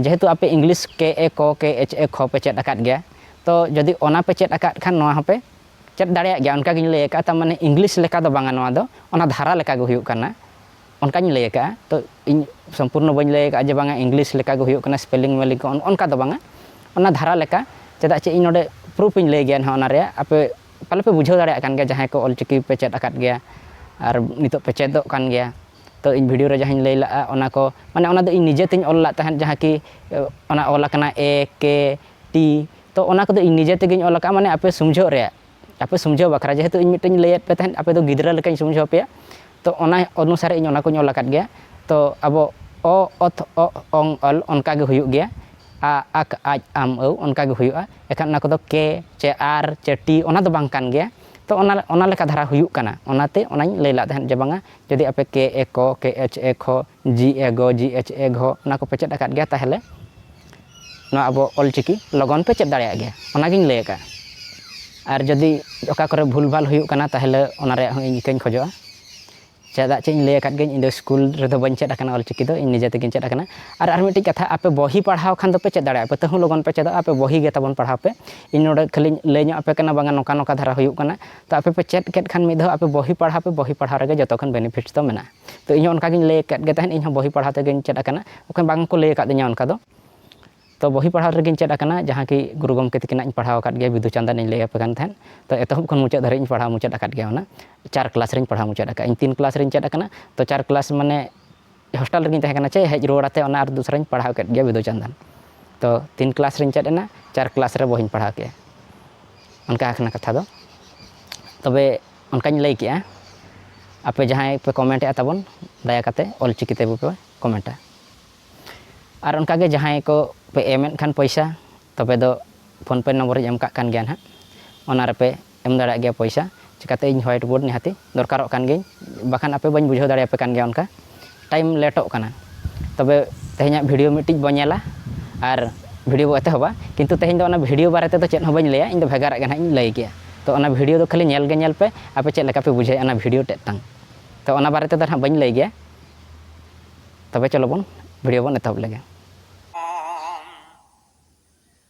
ᱡᱮᱦᱮᱛᱩ ᱟᱯᱮ ᱤᱝᱞᱤᱥ ᱠᱮ ᱮ ᱠᱚ ᱠᱮ ᱮᱪ ᱮ ᱠᱷᱚ ᱯᱮ ᱪᱮᱫ ᱟᱠᱟᱫ ᱜᱮᱭᱟ ᱛᱚ ᱡᱚᱫᱤ ᱚᱱᱟ ᱯᱮ ᱪᱮᱫ ᱟᱠᱟᱫ ᱠᱷᱟᱱ ᱱᱚᱣᱟ ᱦᱚᱸᱯᱮ ᱪᱮᱫ ᱫᱟᱲᱮᱭᱟᱜ ᱜᱮᱭᱟ ᱚᱱᱠᱟ ᱜᱤᱧ ᱞᱟᱹᱭ ᱟᱠᱟᱫᱼᱟ ᱛᱟᱨ ᱢᱟᱱᱮ ᱤᱝᱞᱤᱥ ᱞᱮᱠᱟ ᱫᱚ ᱵᱟᱝᱟ ᱱᱚᱣᱟ ᱫᱚ ᱚᱱᱟ ᱫᱷᱟᱨᱟ ᱞᱮᱠᱟ ᱜᱮ ᱦᱩᱭᱩᱜ ᱠᱟᱱᱟ ᱚᱱᱠᱟᱧ ᱞᱟᱹᱭ ᱟᱠᱟᱫᱼᱟ ᱛᱚ ᱤᱧ ᱥᱚᱢᱯᱩᱨᱱᱚ ᱵᱟᱹᱧ ᱞᱟᱹᱭ ᱟᱠᱟᱫᱼᱟ ᱡᱮ ᱵᱟᱝᱟ ᱤᱝᱞᱤᱥ ᱞᱮᱠᱟ ᱜᱮ ᱦᱩᱭᱩᱜ ᱠᱟᱱᱟ ᱥᱯᱮᱞᱤᱝ ᱢᱮᱞᱤᱝ ᱠᱚ ᱚᱱᱠᱟ ᱫᱚ ᱵᱟᱝᱟ ᱚᱱᱟ ᱫᱷᱟᱨᱟ ᱞᱮᱠᱟ ᱪᱮᱫᱟᱜ ᱪᱮ ᱤᱧ ᱱᱚᱰᱮ ᱯᱨᱩᱯᱷ ᱤᱧ ᱞᱟᱹᱭ ᱜᱮᱭᱟ ᱱᱟᱦᱟᱜ ᱚᱱᱟ ᱨᱮᱭᱟᱜ ᱟᱯᱮ ᱯᱟᱞᱮ ᱯᱮ ᱵᱩᱡᱷᱟᱹᱣ ᱫᱟᱲᱮᱭᱟᱜ ᱠᱟᱱ ᱜᱮᱭᱟ ᱡᱟᱦᱟᱸᱭ ᱠᱚ ᱚᱞ ᱪᱤᱠᱤ ᱯᱮ ᱪᱮᱫ ᱟᱠᱟᱫ ᱜᱮᱭᱟ ᱟᱨ ᱱᱤᱛᱚᱜ ᱯᱮ ᱪᱮᱫᱚᱜ ᱠᱟᱱ ᱜᱮᱭᱟ ᱛᱚ ᱤᱧ ᱵᱷᱤᱰᱭᱳ ᱨᱮ ᱡᱟᱦᱟᱸᱧ ᱞᱟᱹᱭ ᱞᱟᱜᱼᱟ ᱚᱱᱟ ᱠᱚ ᱢᱟᱱᱮ ᱚᱱᱟ ᱫᱚ ᱤᱧ ᱱᱤᱡᱮ ᱛᱤᱧ ᱚᱞ ᱞᱮᱫ ᱛᱟᱦᱮᱸᱫ ᱡᱟᱦᱟᱸ ᱠᱤ ᱚᱱᱟ ᱚᱞ ᱟᱠᱟᱱᱟ ᱮ ᱠᱮ ᱴᱤ ᱛᱚ ᱚᱱᱟ ᱠᱚᱫᱚ ᱤᱧ ᱱᱤᱡᱮ ᱛᱮᱜᱮᱧ ᱚᱞ ᱟᱠᱟᱫᱼᱟ ᱢᱟᱱᱮ ᱟᱯᱮ ᱥᱩᱢᱡᱷᱟᱹᱜ ᱨᱮᱭᱟᱜ ᱟᱯᱮ ᱥᱩᱢᱡᱷᱟᱹᱣ ᱵᱟᱠᱷᱨᱟ ᱡᱮᱦᱮᱛᱩ ᱤᱧ ᱢᱤᱫᱴᱮᱱ ᱞᱟᱹᱭᱟᱫ ᱯᱮ ᱛᱟᱦᱮᱸᱫ ᱟᱯᱮ ᱫᱚ ᱜᱤᱫᱽᱨᱟᱹ ᱞᱮᱠᱟᱧ ᱥᱩᱢᱡᱷᱟᱹᱣ ᱟᱯᱮᱭᱟ ᱛᱚ ᱚᱱᱟ ᱚᱱᱩᱥᱟᱨ ᱤᱧ ᱚᱱᱟ ᱠᱚᱧ ᱚᱞ ᱟᱠᱟᱫ ᱜᱮᱭᱟ ᱛᱚ ᱟᱵᱚ ᱚ ᱚᱛ ᱚᱜ ᱚᱝ ᱚᱞ ᱚᱱᱠᱟ ᱜᱮ ᱦᱩᱭᱩᱜ ᱜᱮᱭᱟ ᱟ ᱟᱠ ᱟᱡ ᱟᱢ ᱟᱹᱣ ᱚᱱᱠᱟ ᱜᱮ ᱦᱩᱭᱩᱜᱼᱟ ᱮᱱᱠᱷᱟᱱ ᱚᱱᱟ ᱠᱚᱫᱚ ᱠᱮ ᱪᱮ ᱟᱨ ᱪᱮ ᱴᱤ ᱚᱱᱟ ᱫᱚ ᱵᱟᱝ ᱠᱟᱱ ᱜᱮᱭᱟ ᱛᱚ ᱚᱱᱟ ᱚᱱᱟ ᱞᱮᱠᱟ ᱫᱷᱟᱨᱟ ᱦᱩᱭᱩᱜ ᱠᱟᱱᱟ ᱚᱱᱟᱛᱮ ᱚᱱᱟᱧ ᱞᱟᱹᱭ ᱞᱮᱫ ᱛᱟᱦᱮᱸᱫ ᱡᱮ ᱵᱟᱝᱟ ᱡᱩᱫᱤ ᱟᱯᱮ ᱠᱮ ᱮ ᱠᱚ ᱠᱮ ᱮᱪ ᱮ ᱠᱷᱚ ᱡᱤ ᱮ ᱜᱚ ᱡᱤ ᱮᱪ ᱮ ᱜᱷᱚ ᱚᱱᱟ ᱠᱚᱯᱮ ᱪᱮᱫ ᱟᱠᱟᱫ ᱜᱮᱭᱟ ᱛᱟᱦᱚᱞᱮ ᱱᱚᱣᱟ ᱟᱵᱚ ᱚᱞ ᱪᱤᱠᱤ ᱞᱚᱜᱚᱱ ᱯᱮ ᱪᱮᱫ ᱫᱟᱲᱮᱭᱟᱜ ᱜᱮᱭᱟ ᱚᱱᱟ ᱜᱤᱧ ᱞᱟᱹᱭ ᱟᱠᱟᱫᱼᱟ ᱟᱨ ᱡᱩᱫᱤ ᱚᱠᱟ ᱠᱚᱨᱮ ᱵᱷᱩᱞ ᱵᱷᱟᱞ ᱦᱩᱭᱩᱜ ᱠᱟᱱᱟ ᱛᱟᱦᱚᱞᱮ ᱚᱱᱟ ᱨᱮᱭᱟᱜ ᱦᱚᱸ ᱤᱧ ᱤᱠᱟᱹᱧ ᱠᱷᱚᱡᱚᱜᱼᱟ ᱪᱮᱫᱟᱜ ᱪᱮ ᱤᱧ ᱞᱟᱹᱭ ᱟᱠᱟᱫ ᱜᱤᱭᱟᱹᱧ ᱤᱧ ᱫᱚ ᱥᱠᱩᱞ ᱨᱮᱫᱚ ᱵᱟᱹᱧ ᱪᱮᱫ ᱟᱠᱟᱱᱟ ᱚᱞ ᱪᱤᱠᱤ ᱫᱚ ᱤᱧ ᱱᱤᱡᱮ ᱛᱮᱜᱮᱧ ᱪᱮᱫ ᱟᱠᱟᱱᱟ ᱟᱨ ᱟᱨ ᱢᱤᱫᱴᱤᱡ ᱠᱟᱛᱷᱟ ᱟᱯᱮ ᱵᱚᱦᱤ ᱯᱟᱲᱦᱟᱣ ᱠᱷᱟᱱ ᱫᱚᱯᱮ ᱪᱮᱫ ᱫᱟᱲᱮᱭᱟᱜᱼᱟ ᱟᱯᱮ ᱛᱟᱹᱦᱩ ᱞᱚᱜᱚᱱ ᱯᱮ ᱪᱮᱫᱚᱜᱼᱟ ᱟᱯᱮ ᱵᱚᱦᱤ ᱜᱮ ᱛᱟᱵᱚᱱ ᱯᱟᱲᱦᱟᱣ ᱯᱮ ᱤᱧ ᱱᱚᱰᱮ ᱠᱷᱟᱹᱞᱤᱧ ᱞᱟᱹᱭ ᱧᱚᱜ ᱟᱯᱮ ᱠᱟᱱᱟ ᱵᱟᱝᱟ ᱱᱚᱝᱠᱟ ᱱᱚᱝᱠᱟ ᱫᱷᱟᱨᱟ ᱦᱩᱭᱩᱜ ᱠᱟᱱᱟ ᱛᱚ ᱟᱯᱮ ᱯᱮ ᱪᱮᱫ ᱠᱮᱫ ᱠᱷᱟᱱ ᱢᱤᱫ ᱫᱷᱟᱣ ᱟᱯᱮ ᱵᱚᱦᱤ ᱯᱟᱲᱦᱟᱣ ᱯᱮ ᱵᱚᱦᱤ ᱯᱟᱲᱦᱟᱣ ᱨᱮᱜᱮ ᱡᱚᱛᱚ ᱠᱷᱚᱱ ᱵᱮᱱᱤᱯᱷᱤᱴ ᱫᱚ ᱢᱮᱱᱟᱜᱼᱟ ᱛᱚ ᱤᱧ ᱦᱚᱸ ᱚᱱᱠᱟ ᱜᱤᱧ ᱞᱟᱹᱭ ᱟᱠᱟᱫ ᱜᱮ ᱛᱟᱦᱮᱸᱫ ᱤᱧ ᱦᱚᱸ ᱵᱚᱦᱤ ᱯᱟᱲᱦᱟᱣ ᱛᱮᱜᱮᱧ ᱪᱮᱫ ᱟᱠᱟᱱᱟ ᱵᱟᱠᱷᱟᱱ ᱵᱟᱝ ᱠᱚ ᱞᱟᱹᱭ ᱟᱠᱟᱫᱤᱧᱟ ᱚᱱᱠᱟ ᱫᱚ ᱛᱚ ᱵᱚᱦᱤ ᱯᱟᱲᱦᱟᱣ ᱨᱮᱜᱮᱧ ᱪᱮᱫ ᱟᱠᱟᱱᱟ ᱡᱟᱦᱟᱸ ᱠᱤ ᱜᱩᱨᱩ ᱜᱚᱢᱠᱮ ᱛᱟᱹᱠᱤᱱᱟᱜ ᱤᱧ ᱯᱟᱲᱦᱟᱣ ᱟᱠᱟᱫ ᱜᱮᱭᱟ ᱵᱤᱸᱫᱩ ᱪᱟᱸᱫᱟᱱ ᱤᱧ ᱞᱟᱹᱭ ᱟᱯᱮ ᱠᱟᱱ ᱛᱟᱦᱮᱸᱫ ᱛᱚ ᱮᱛᱚᱦᱚᱵ ᱠᱷᱚᱱ ᱢᱩᱪᱟᱹᱫ ᱫᱷᱟᱹᱨᱤᱡ ᱤᱧ ᱯᱟᱲᱦᱟᱣ ᱢᱩᱪᱟᱹᱫ ᱟᱠᱟᱫ ᱜᱮᱭᱟ ᱚᱱᱟ ᱪᱟᱨ ᱠᱞᱟᱥ ᱨᱤᱧ ᱯᱟᱲᱦᱟᱣ ᱢᱩᱪᱟᱹᱫ ᱟᱠᱟᱫᱼᱟ ᱤᱧ ᱛᱤᱱ ᱠᱞᱟᱥ ᱨᱤᱧ ᱪᱮᱫ ᱟᱠᱟᱱᱟ ᱛᱚ ᱪᱟᱨ ᱠᱞᱟᱥ ᱢᱟᱱᱮ ᱦᱳᱥᱴᱮᱞ ᱨᱮᱜᱤᱧ ᱛᱟᱦᱮᱸ ᱠᱟᱱᱟ ᱪᱮ ᱦᱮᱡ ᱨᱩᱣᱟᱹᱲ ᱠᱟᱛᱮᱫ ᱚᱱᱟ ᱟᱨ ᱫᱚᱥᱨᱟᱧ ᱯᱟᱲᱦᱟᱣ ᱠᱮᱫ ᱜᱮᱭᱟ ᱵᱤᱸᱫᱩ ᱪᱟᱸᱫᱟᱱ ᱛᱚ ᱛᱤᱱ ᱠᱞᱟᱥ ᱨᱤᱧ ᱪᱮᱫ ᱮᱱᱟ ᱪᱟᱨ ᱠᱞᱟᱥ ᱨᱮ ᱵᱚᱦᱤᱧ ᱯᱟᱲᱦᱟᱣ ᱠᱮᱫᱼᱟ ᱚᱱᱠᱟ ᱠᱟᱱᱟ ᱠᱟᱛᱷᱟ ᱫᱚ ᱛᱚᱵᱮ ᱚᱱᱠᱟᱧ ᱞᱟᱹᱭ ᱠᱮᱜᱼᱟ ᱟᱯᱮ ᱡᱟᱦᱟᱸᱭ ᱯᱮ ᱠᱚᱢᱮᱱᱴ ᱮᱜᱼᱟ ᱛᱟᱵᱚᱱ ᱫᱟᱭᱟ ᱠᱟᱛᱮ ᱚᱞᱪᱤᱠᱤ ᱛᱮ ᱯᱮ ᱠᱚᱢᱮᱱᱴᱟ ᱟᱨ ᱚᱱᱠᱟ ᱜᱮ ᱡᱟᱦᱟᱸᱭ ᱠᱚ ᱯᱮ ᱮᱢᱮᱫ ᱠᱷᱟᱱ ᱯᱚᱭᱥᱟ ᱛᱚᱵᱮ ᱫᱚ ᱯᱷᱳᱱ ᱯᱮ ᱱᱚᱢᱵᱚᱨ ᱤᱧ ᱮᱢ ᱠᱟᱜ ᱠᱟᱱ ᱜᱮᱭᱟ ᱦᱟᱸᱜ ᱚᱱᱟ ᱨᱮᱯᱮ ᱮᱢ ᱫᱟᱲᱮᱭᱟᱜ ᱜᱮᱭᱟ ᱯᱚᱭᱥᱟ ᱪᱤᱠᱟᱛᱮ ᱤᱧ ᱦᱳᱣᱟᱭᱤᱴ ᱵᱳᱨᱰ ᱱᱤᱦᱟᱹᱛᱤ ᱫᱚᱨᱠᱟᱨᱚᱜ ᱠᱟᱱ ᱜᱤᱭᱟᱹᱧ ᱵᱟᱠᱷᱟᱱ ᱟᱯᱮ ᱵᱟᱹᱧ ᱵᱩᱡᱷᱟᱹᱣ ᱫᱟᱲᱮ ᱟᱯᱮ ᱠᱟᱱ ᱜᱮᱭᱟ ᱚᱱᱠᱟ ᱴᱟᱭᱤᱢ ᱞᱮᱴᱚᱜ ᱠᱟᱱᱟ ᱛᱚᱵᱮ ᱛᱮᱦᱮᱧᱟᱜ ᱵᱷᱤᱰᱤᱭᱳ ᱢᱤᱫᱴᱤᱡ ᱵᱚ ᱧᱮᱞᱟ ᱟᱨ ᱵᱷᱤᱰᱤᱭᱳ ᱵᱚ ᱮᱛᱚᱦᱚᱵᱟ ᱠᱤᱱᱛᱩ ᱛᱮᱦᱮᱧ ᱫᱚ ᱚᱱᱟ ᱵᱷᱤᱰᱤᱭᱳ ᱵᱟᱨᱮ ᱛᱮᱫᱚ ᱪᱮᱫ ᱦᱚᱸ ᱵᱟᱹᱧ ᱞᱟᱹᱭᱟ ᱤᱧ ᱫᱚ ᱵᱷᱮᱜᱟᱨᱟᱜ ᱜᱮ ᱱᱟᱦᱟᱜ ᱤᱧ ᱞᱟᱹᱭ ᱜᱮᱭᱟ ᱛᱚ ᱚᱱᱟ ᱵᱷᱤᱰᱤᱭᱳ ᱫᱚ ᱠᱷᱟᱹᱞᱤ ᱧᱮᱞ ᱜᱮ ᱧᱮᱞ ᱯᱮ ᱟᱯᱮ ᱪᱮᱫ ᱞᱮᱠᱟ ᱯᱮ ᱵᱩᱡᱷᱟᱹᱣᱮᱫᱼᱟ ᱚᱱᱟ ᱵᱷᱤᱰᱤᱭᱳ ᱛᱮᱫ ᱛᱟᱝ ᱛᱚ ᱚᱱᱟ ᱵᱟᱨᱮ ᱛᱮᱫᱚ ᱱᱟᱦᱟᱜ ᱵᱟᱹᱧ ᱞᱟᱹᱭ ᱜᱮᱭᱟ ᱛᱚᱵᱮ ᱪᱚᱞᱚ ᱵᱚᱱ ᱵᱷᱤᱰᱤᱭᱳ ᱵᱚᱱ ᱮᱛᱚᱦᱚᱵ ᱞᱮᱜᱮ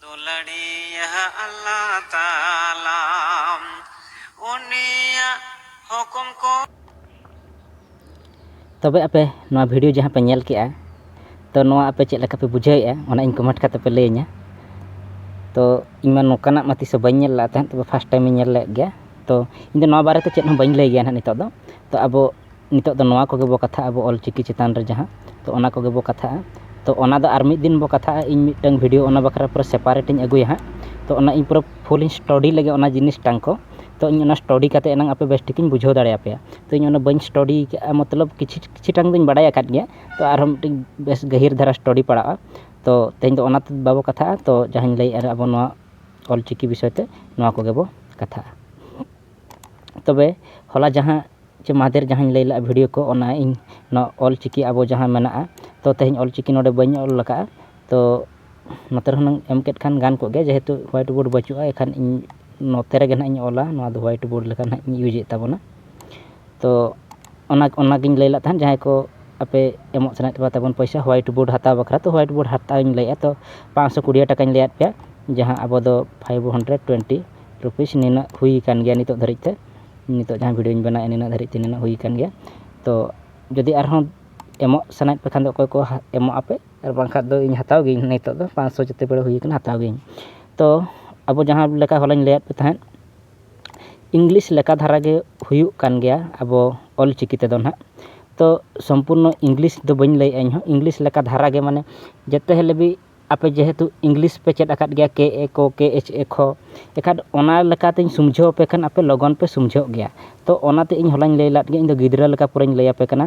ᱫᱩᱞᱟᱹᱲᱤᱭᱟᱹ ᱟᱞᱞᱟᱦ ᱛᱟᱞᱟ ᱩᱱᱤᱭᱟᱜ ᱦᱩᱠᱩᱢ ᱠᱚ᱾ ᱛᱚᱵᱮ ᱟᱯᱮ ᱱᱚᱣᱟ ᱵᱷᱤᱰᱤᱭᱳ ᱡᱟᱦᱟᱸ ᱯᱮ ᱧᱮᱞ ᱠᱮᱫᱼᱟ ᱛᱚ ᱱᱚᱣᱟ ᱟᱯᱮ ᱪᱮᱫ ᱞᱮᱠᱟ ᱯᱮ ᱵᱩᱡᱷᱟᱹᱣ ᱮᱫᱼᱟ ᱚᱱᱟ ᱤᱧ ᱠᱚᱢᱮᱱᱴ ᱠᱟᱛᱮ ᱯᱮ ᱞᱟᱹᱭ ᱤᱧᱟ ᱛᱚ ᱤᱧ ᱢᱟ ᱱᱚᱝᱠᱟᱱᱟᱜ ᱢᱟ ᱛᱤᱥ ᱦᱚᱸ ᱵᱟᱹᱧ ᱧᱮᱞ ᱞᱮᱫ ᱛᱟᱦᱮᱸᱫ ᱛᱚᱵᱮ ᱯᱷᱟᱥᱴ ᱴᱟᱭᱤᱢ ᱤᱧ ᱧᱮᱞ ᱞᱮᱫ ᱜᱮᱭᱟ ᱛᱚ ᱤᱧ ᱫᱚ ᱱᱚᱣᱟ ᱵᱟᱨᱮ ᱛᱮ ᱪᱮᱫ ᱦᱚᱸ ᱵᱟᱹᱧ ᱞᱟᱹᱭ ᱜᱮᱭᱟ ᱱᱟᱦᱟᱜ ᱱᱤᱛᱚᱜ ᱫᱚ ᱛᱚ ᱟᱵᱚ ᱱᱤᱛᱚᱜ ᱫᱚ ᱱᱚᱣᱟ ᱠᱚᱜᱮ ᱵᱚ ᱠᱟᱛᱷᱟᱜ ᱟᱵᱚ ᱚᱞ ᱪᱤᱠᱤ ᱪᱮᱛᱟᱱ ᱨᱮ ᱡᱟᱦᱟᱸ ᱛᱚ ᱚᱱᱟ ᱠᱚᱜᱮ ᱵᱚ ᱠᱟᱛᱷᱟᱜᱼᱟ ᱛᱚ ᱚᱱᱟ ᱫᱚ ᱟᱨ ᱢᱤᱫ ᱫᱤᱱ ᱵᱚ ᱠᱟᱛᱷᱟᱜᱼᱟ ᱤᱧ ᱢᱤᱫᱴᱟᱝ ᱵᱷᱤᱰᱤᱭᱳ ᱚᱱᱟ ᱵᱟᱠᱷᱨᱟ ᱯᱩᱨᱟᱹ ᱥᱮᱯᱟᱨᱮᱴ ᱤᱧ ᱟᱹᱜᱩᱭᱟ ᱦᱟᱸᱜ ᱛᱚ ᱚᱱᱟ ᱤᱧ ᱯᱩᱨᱟᱹ ᱯᱷᱩᱞ ᱤᱧ ᱥᱴᱚᱰᱤ ᱞᱮᱜᱮ ᱚᱱᱟ ᱡᱤᱱᱤᱥ ᱴᱟᱝ ᱠᱚ ᱛᱚ ᱤᱧ ᱚᱱᱟ ᱥᱴᱚᱰᱤ ᱠᱟᱛᱮᱫ ᱮᱱᱟᱝ ᱟᱯᱮ ᱵᱮᱥ ᱴᱷᱤᱠ ᱤᱧ ᱵᱩᱡᱷᱟᱹᱣ ᱫᱟᱲᱮ ᱟᱯᱮᱭᱟ ᱛᱚ ᱤᱧ ᱚᱱᱟ ᱵᱟᱹᱧ ᱥᱴᱚᱰᱤ ᱠᱟᱜᱼᱟ ᱢᱚᱛᱞᱚᱵ ᱠᱤᱪᱷᱩ ᱠᱤᱪᱷᱩ ᱴᱟᱝ ᱫᱚᱧ ᱵᱟᱰᱟᱭ ᱟᱠᱟᱫ ᱜᱮᱭᱟ ᱛᱚ ᱟᱨᱦᱚᱸ ᱢᱤᱫᱴᱤᱡ ᱵᱮᱥ ᱜᱟᱹᱦᱤᱨ ᱫᱷᱟᱨᱟ ᱥᱴᱚᱰᱤ ᱯᱟᱲᱟᱜᱼᱟ ᱛᱚ ᱛᱮᱦᱮᱧ ᱫᱚ ᱚᱱᱟ ᱛᱮᱫᱚ ᱵᱟᱵᱚ ᱠᱟᱛᱷᱟᱜᱼᱟ ᱛᱚ ᱡᱟᱦᱟᱸᱧ ᱞᱟᱹᱭᱮᱫᱼᱟ ᱟᱵᱚ ᱱᱚᱣᱟ ᱚᱞ ᱪᱤᱠᱤ ᱵᱤᱥᱚᱭ ᱛᱮ ᱱᱚᱣᱟ ᱠᱚᱜᱮ ᱵᱚ ᱠᱟᱛᱷᱟᱜᱼᱟ ᱛᱚᱵᱮ ᱦᱚᱞᱟ ᱡᱟᱦᱟᱸ ᱪᱮ ᱢᱟᱫᱷᱮᱨ ᱡᱟᱦᱟᱸᱧ ᱞᱟᱹᱭ ᱞᱮᱫᱼᱟ ᱵᱷᱤᱰᱤᱭᱳ ᱠᱚ ᱚᱱᱟ ᱤᱧ ᱱᱚᱣᱟ ᱚᱞ ᱪᱤᱠᱤ ᱟᱵᱚ ᱡᱟᱦᱟᱸ ᱢᱮᱱᱟᱜᱼᱟ ᱛᱚ ᱛᱮᱦᱮᱧ ᱚᱞ ᱪᱤᱠᱤ ᱱᱚᱰᱮ ᱵᱟᱹᱧ ᱚᱞ ᱟᱠᱟᱫᱼᱟ ᱛᱚ ᱱᱚᱛᱮ ᱨᱮ ᱦᱩᱱᱟᱹᱝ ᱮᱢ ᱠᱮᱫ ᱠᱷᱟᱱ ᱜᱟᱱ ᱠᱚᱜ ᱜᱮᱭᱟ ᱡᱮᱦᱮᱛᱩ ᱦᱳᱣᱟᱭᱤᱴ ᱵᱳᱨᱰ ᱵᱟᱹᱪᱩᱜᱼᱟ ᱮᱱᱠᱷᱟᱱ ᱤᱧ ᱱᱚᱛᱮ ᱨᱮᱜᱮ ᱦᱟᱸᱜ ᱤᱧ ᱚᱞᱟ ᱱᱚᱣᱟ ᱫᱚ ᱦᱳᱣᱟᱭᱤᱴ ᱵᱳᱨᱰ ᱞᱮᱠᱟ ᱦᱟᱸᱜ ᱤᱧ ᱤᱭᱩᱡᱮᱫ ᱛᱟᱵᱚᱱᱟ ᱛᱚ ᱚᱱᱟ ᱚᱱᱟᱜᱤᱧ ᱞᱟᱹᱭ ᱞᱮᱫ ᱛᱟᱦᱮᱸᱫ ᱡᱟᱦᱟᱸᱭ ᱠᱚ ᱟᱯᱮ ᱮᱢᱚᱜ ᱥᱟᱱᱟᱭᱮᱫ ᱯᱮᱠᱷᱟᱱ ᱛᱟᱵᱚᱱ ᱯᱚᱭᱥᱟ ᱦᱳᱣᱟᱭᱤᱴ ᱵᱳᱨᱰ ᱦᱟᱛᱟᱣ ᱵᱟᱠᱷᱨᱟ ᱛᱚ ᱦᱳᱣᱟᱭᱤᱴ ᱵᱳᱨᱰ ᱦᱟᱛᱟᱣ ᱤᱧ ᱞᱟᱹᱭᱮᱫᱼᱟ ᱛᱚ ᱯᱟᱸᱥᱥᱚ ᱠᱩᱲᱤ ᱴᱟᱠᱟᱧ ᱞᱟᱹᱭᱟᱫ ᱯᱮᱭᱟ ᱡᱟᱦᱟᱸ ᱟᱵᱚ ᱫᱚ ᱯᱷᱟᱭᱤᱵᱷ ᱦᱟᱱᱰᱨᱮᱰ ᱴᱩᱭᱮᱱᱴᱤ ᱨᱩᱯᱤᱥ ᱱᱤᱱᱟᱹᱜ ᱦᱩᱭ ᱟᱠᱟᱱ ᱜᱮᱭᱟ ᱱᱤᱛᱚᱜ ᱫᱷᱟᱹᱨᱤᱡ ᱛᱮ ᱱᱤᱛᱚᱜ ᱡᱟᱦᱟᱸ ᱵᱷᱤᱰᱭᱳᱧ ᱵᱮᱱᱟᱣᱮᱫᱼᱟ ᱱᱤᱱᱟᱹᱜ ᱫᱷᱟᱹᱨᱤᱡ ᱛᱮ ᱱᱤᱱᱟᱹᱜ ᱦᱩᱭ ᱟᱠᱟᱱ ᱜᱮᱭᱟ ᱛᱚ ᱡᱩᱫᱤ ᱟᱨᱦᱚᱸ ᱮᱢᱚᱜ ᱥᱟᱱᱟᱭᱮᱫ ᱯᱮ ᱠᱷᱟᱱ ᱫᱚ ᱚᱠᱚᱭ ᱠᱚ ᱮᱢᱚᱜ ᱟᱯᱮ ᱟᱨ ᱵᱟᱝᱠᱷᱟᱱ ᱫᱚ ᱤᱧ ᱦᱟᱛᱟᱣ ᱜᱤᱭᱟᱹᱧ ᱱᱤᱛᱚᱜ ᱫᱚ ᱯᱟᱸᱪᱥᱚ ᱡᱮᱛᱮ ᱵᱮᱲᱟ ᱦᱩᱭ ᱟᱠᱟᱱᱟ ᱦᱟᱛᱟᱣ ᱜᱤᱭᱟᱹᱧ ᱛᱚ ᱟᱵᱚ ᱡᱟᱦᱟᱸ ᱞᱮᱠᱟ ᱦᱚᱞᱟᱧ ᱞᱟᱹᱭᱟᱫ ᱯᱮ ᱛᱟᱦᱮᱸᱫ ᱤᱝᱞᱤᱥ ᱞᱮᱠᱟ ᱫᱷᱟᱨᱟ ᱜᱮ ᱦᱩᱭᱩᱜ ᱠᱟᱱ ᱜᱮᱭᱟ ᱟᱵᱚ ᱚᱞᱪᱤᱠᱤ ᱛᱮᱫᱚ ᱦᱟᱸᱜ ᱛᱚ ᱥᱚᱢᱯᱩᱨᱱᱚ ᱤᱝᱞᱤᱥ ᱫᱚ ᱵᱟᱹᱧ ᱞᱟᱹᱭᱮᱫᱼᱟ ᱤᱧᱦᱚᱸ ᱤᱝᱞᱤᱥ ᱞᱮᱠᱟ ᱫᱷᱟᱨᱟ ᱜᱮ ᱢᱟᱱᱮ ᱡᱮᱛᱮ ᱦᱤᱞᱳᱜ ᱜᱮ ᱟᱯᱮ ᱡᱮᱦᱮᱛᱩ ᱤᱝᱞᱤᱥ ᱯᱮ ᱪᱮᱫ ᱟᱠᱟᱫ ᱜᱮᱭᱟ ᱠᱮ ᱮ ᱠᱚ ᱠᱮ ᱮᱪ ᱮ ᱠᱷᱚ ᱮᱱᱠᱷᱟᱱ ᱚᱱᱟ ᱞᱮᱠᱟᱛᱮᱧ ᱥᱩᱢᱡᱷᱟᱹᱣ ᱟᱯᱮ ᱠᱷᱟᱱ ᱟᱯᱮ ᱞᱚᱜᱚᱱ ᱯᱮ ᱥᱩᱢᱡᱷᱟᱹᱜ ᱜᱮᱭᱟ ᱛᱚ ᱚᱱᱟᱛᱮ ᱤᱧ ᱦᱚᱞᱟᱧ ᱞᱟᱹᱭ ᱞᱮᱫ ᱜᱮ ᱤᱧᱫᱚ ᱜᱤᱫᱽᱨᱟᱹ ᱞᱮᱠᱟ ᱯᱩᱨᱟᱹᱧ ᱞᱟᱹᱭ ᱟᱯᱮ ᱠᱟᱱᱟ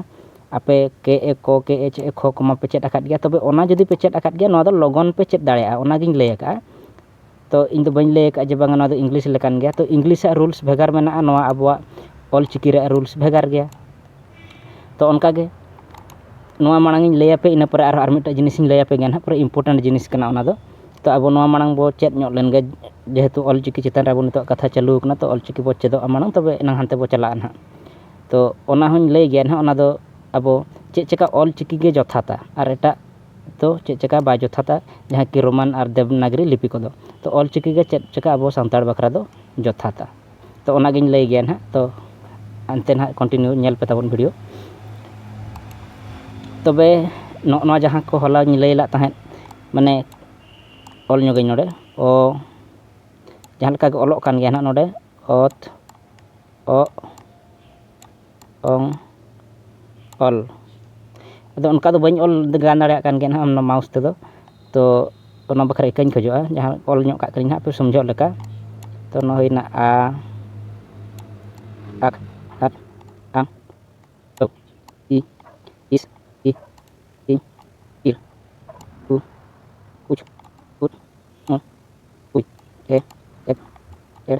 ᱟᱯᱮ ᱠᱮ ᱮ ᱠᱚ ᱠᱮ ᱮᱪ ᱮ ᱠᱷᱚ ᱠᱚᱢᱟ ᱯᱮ ᱪᱮᱫ ᱟᱠᱟᱫ ᱜᱮᱭᱟ ᱛᱚᱵᱮ ᱚᱱᱟ ᱡᱩᱫᱤ ᱯᱮ ᱪᱮᱫ ᱟᱠᱟᱫ ᱜᱮᱭᱟ ᱱᱚᱣᱟ ᱫᱚ ᱞᱚᱜᱚᱱ ᱯᱮ ᱪᱮᱫ ᱫᱟᱲᱮᱭᱟᱜᱼᱟ ᱚᱱᱟᱜᱤᱧ ᱞᱟᱹᱭ ᱟᱠᱟᱫᱼᱟ ᱛᱚ ᱤᱧᱫᱚ ᱵᱟᱹᱧ ᱞᱟᱹᱭ ᱟᱠᱟᱫᱼᱟ ᱡᱮ ᱵᱟᱝ ᱱᱚᱣᱟᱫᱚ ᱤᱝᱞᱤᱥ ᱞᱮᱠᱟᱱ ᱜᱮᱭᱟ ᱛᱚ ᱤᱝᱞᱤᱥᱟᱜ ᱨᱩᱞᱥ ᱵᱷᱮᱜᱟᱨ ᱢᱮᱱᱟᱜᱼᱟ ᱱᱚᱣᱟ ᱟᱵᱚᱣᱟᱜ ᱚᱞᱪᱤᱠᱤ ᱨᱮᱭᱟᱜ ᱨᱩᱞᱥ ᱵᱷᱮᱜᱟᱨ ᱜᱮᱭᱟ ᱛᱚ ᱚᱱᱠᱟᱜᱮ ᱱᱚᱣᱟ ᱢᱟᱲᱟᱝᱤᱧ ᱞᱟᱹᱭ ᱟᱯᱮ ᱤᱱᱟᱹ ᱯᱚᱨᱮ ᱟᱨᱦᱚᱸ ᱟᱨ ᱢᱤᱫᱴᱮᱡ ᱡᱤᱱᱤᱥᱤᱧ ᱞᱟᱹᱭ ᱟᱯᱮ ᱜᱮᱭᱟ ᱱᱟᱦᱟᱜ ᱯᱩᱨᱟᱹ ᱤᱢᱯᱳᱨᱴᱮᱱᱴ ᱡᱤᱱᱤᱥ ᱠᱟᱱᱟ ᱚᱱᱟᱫᱚ ᱛᱚ ᱟᱵᱚ ᱱᱚᱣᱟ ᱢᱟᱲᱟᱝ ᱵᱚ ᱪᱮᱫ ᱧᱚᱜ ᱞᱮᱱᱜᱮ ᱡᱮᱦᱮᱛᱩ ᱚᱞᱪᱤᱠᱤ ᱪᱮᱛᱟᱱ ᱨᱮ ᱟᱵᱚ ᱱᱤᱛᱚᱜ ᱠᱟᱛᱷᱟ ᱪᱟᱹᱞᱩ ᱟᱠᱟᱱᱟ ᱛᱚ ᱚᱞᱪᱤᱠᱤ ᱵᱚ ᱪᱮᱫᱚᱜᱼᱟ ᱢᱟᱲᱟᱝ ᱛᱚᱵᱮ ᱮᱱᱟᱝ ᱦᱟᱱᱛᱮ ᱵᱚ ᱪᱟᱞᱟᱜᱼᱟ ᱱᱟᱦᱟᱜ ᱛᱚ ᱚᱱᱟᱦᱚᱸᱧ ᱞᱟᱹᱭ ᱜᱮᱭᱟ ᱱᱟᱦᱟᱜ ᱚᱱᱟᱫᱚ ᱟᱵᱚ ᱪᱮᱫ ᱪᱤᱠᱟᱹ ᱚᱞᱪᱤᱠᱤ ᱜᱮ ᱡᱚᱛᱷᱟᱛᱟ ᱟᱨ ᱮᱴᱟᱜ ᱫᱚ ᱪᱮᱫ ᱪᱮᱠᱟ ᱵᱟᱭ ᱡᱚᱛᱷᱟᱛᱟ ᱡᱟᱦᱟᱸ ᱠᱤ ᱨᱳᱢᱟᱱ ᱟᱨ ᱫᱮᱵᱽᱱᱟᱜᱽᱨᱤ ᱞᱤᱯᱤ ᱠᱚᱫᱚ ᱛᱚ ᱚᱞ ᱪᱤᱠᱤ ᱜᱮ ᱪᱮᱫ ᱪᱮᱠᱟ ᱟᱵᱚ ᱥᱟᱱᱛᱟᱲ ᱵᱟᱠᱷᱨᱟ ᱫᱚ ᱡᱚᱛᱷᱟᱛᱟ ᱛᱚ ᱚᱱᱟ ᱜᱮᱧ ᱞᱟᱹᱭ ᱜᱮᱭᱟ ᱱᱟᱦᱟᱜ ᱛᱚ ᱦᱟᱱᱛᱮ ᱱᱟᱦᱟᱜ ᱠᱚᱱᱴᱤᱱᱤᱭᱩ ᱧᱮᱞ ᱯᱮ ᱛᱟᱵᱚᱱ ᱵᱷᱤᱰᱤᱭᱳ ᱛᱚᱵᱮ ᱱᱚᱜᱼᱚ ᱱᱚᱣᱟ ᱡᱟᱦᱟᱸ ᱠᱚ ᱦᱚᱞᱟᱧ ᱞᱟᱹᱭ ᱞᱮᱫ ᱛᱟᱦᱮᱸᱫ ᱢᱟᱱᱮ ᱚᱞ ᱧᱚᱜᱟᱹᱧ ᱱᱚᱰᱮ ᱚ ᱡᱟᱦᱟᱸ ᱞᱮᱠᱟ ᱜᱮ ᱚᱞᱚᱜ ᱠᱟᱱ ᱜᱮᱭᱟ ᱱᱟᱦᱟᱜ ᱱᱚᱰᱮ ᱚᱛ ᱚᱜ ᱚᱝ ᱚᱞ ᱟᱫᱚ ᱚᱱᱠᱟ ᱫᱚ ᱵᱟᱹᱧ ᱚᱞ ᱜᱟᱱ ᱫᱟᱲᱮᱭᱟᱜ ᱠᱟᱱ ᱜᱮᱭᱟ ᱦᱟᱸᱜ ᱚᱱᱟ ᱢᱟᱣᱩᱥ ᱛᱮᱫᱚ ᱛᱚ ᱚᱱᱟ ᱵᱟᱠᱷᱨᱟ ᱤᱠᱟᱹᱧ ᱠᱷᱚᱡᱚᱜᱼᱟ ᱡᱟᱦᱟᱸ ᱚᱞ ᱧᱚᱜ ᱠᱟᱜ ᱠᱟᱹᱱᱟᱹᱧ ᱦᱟᱸᱜ ᱯᱮ ᱥᱚᱢᱡᱷᱚᱜ ᱞᱮᱠᱟ ᱛᱚ ᱱᱚᱣᱟ ᱦᱩᱭᱱᱟ ᱟ ᱟᱠ ᱟᱠ ᱟᱝ ᱟᱹᱠ ᱤ ᱤᱥ ᱤ ᱤ ᱤᱨ ᱩ ᱩᱪ ᱩᱫ ᱩᱸ ᱩᱭ ᱮ ᱮᱫ ᱮᱲ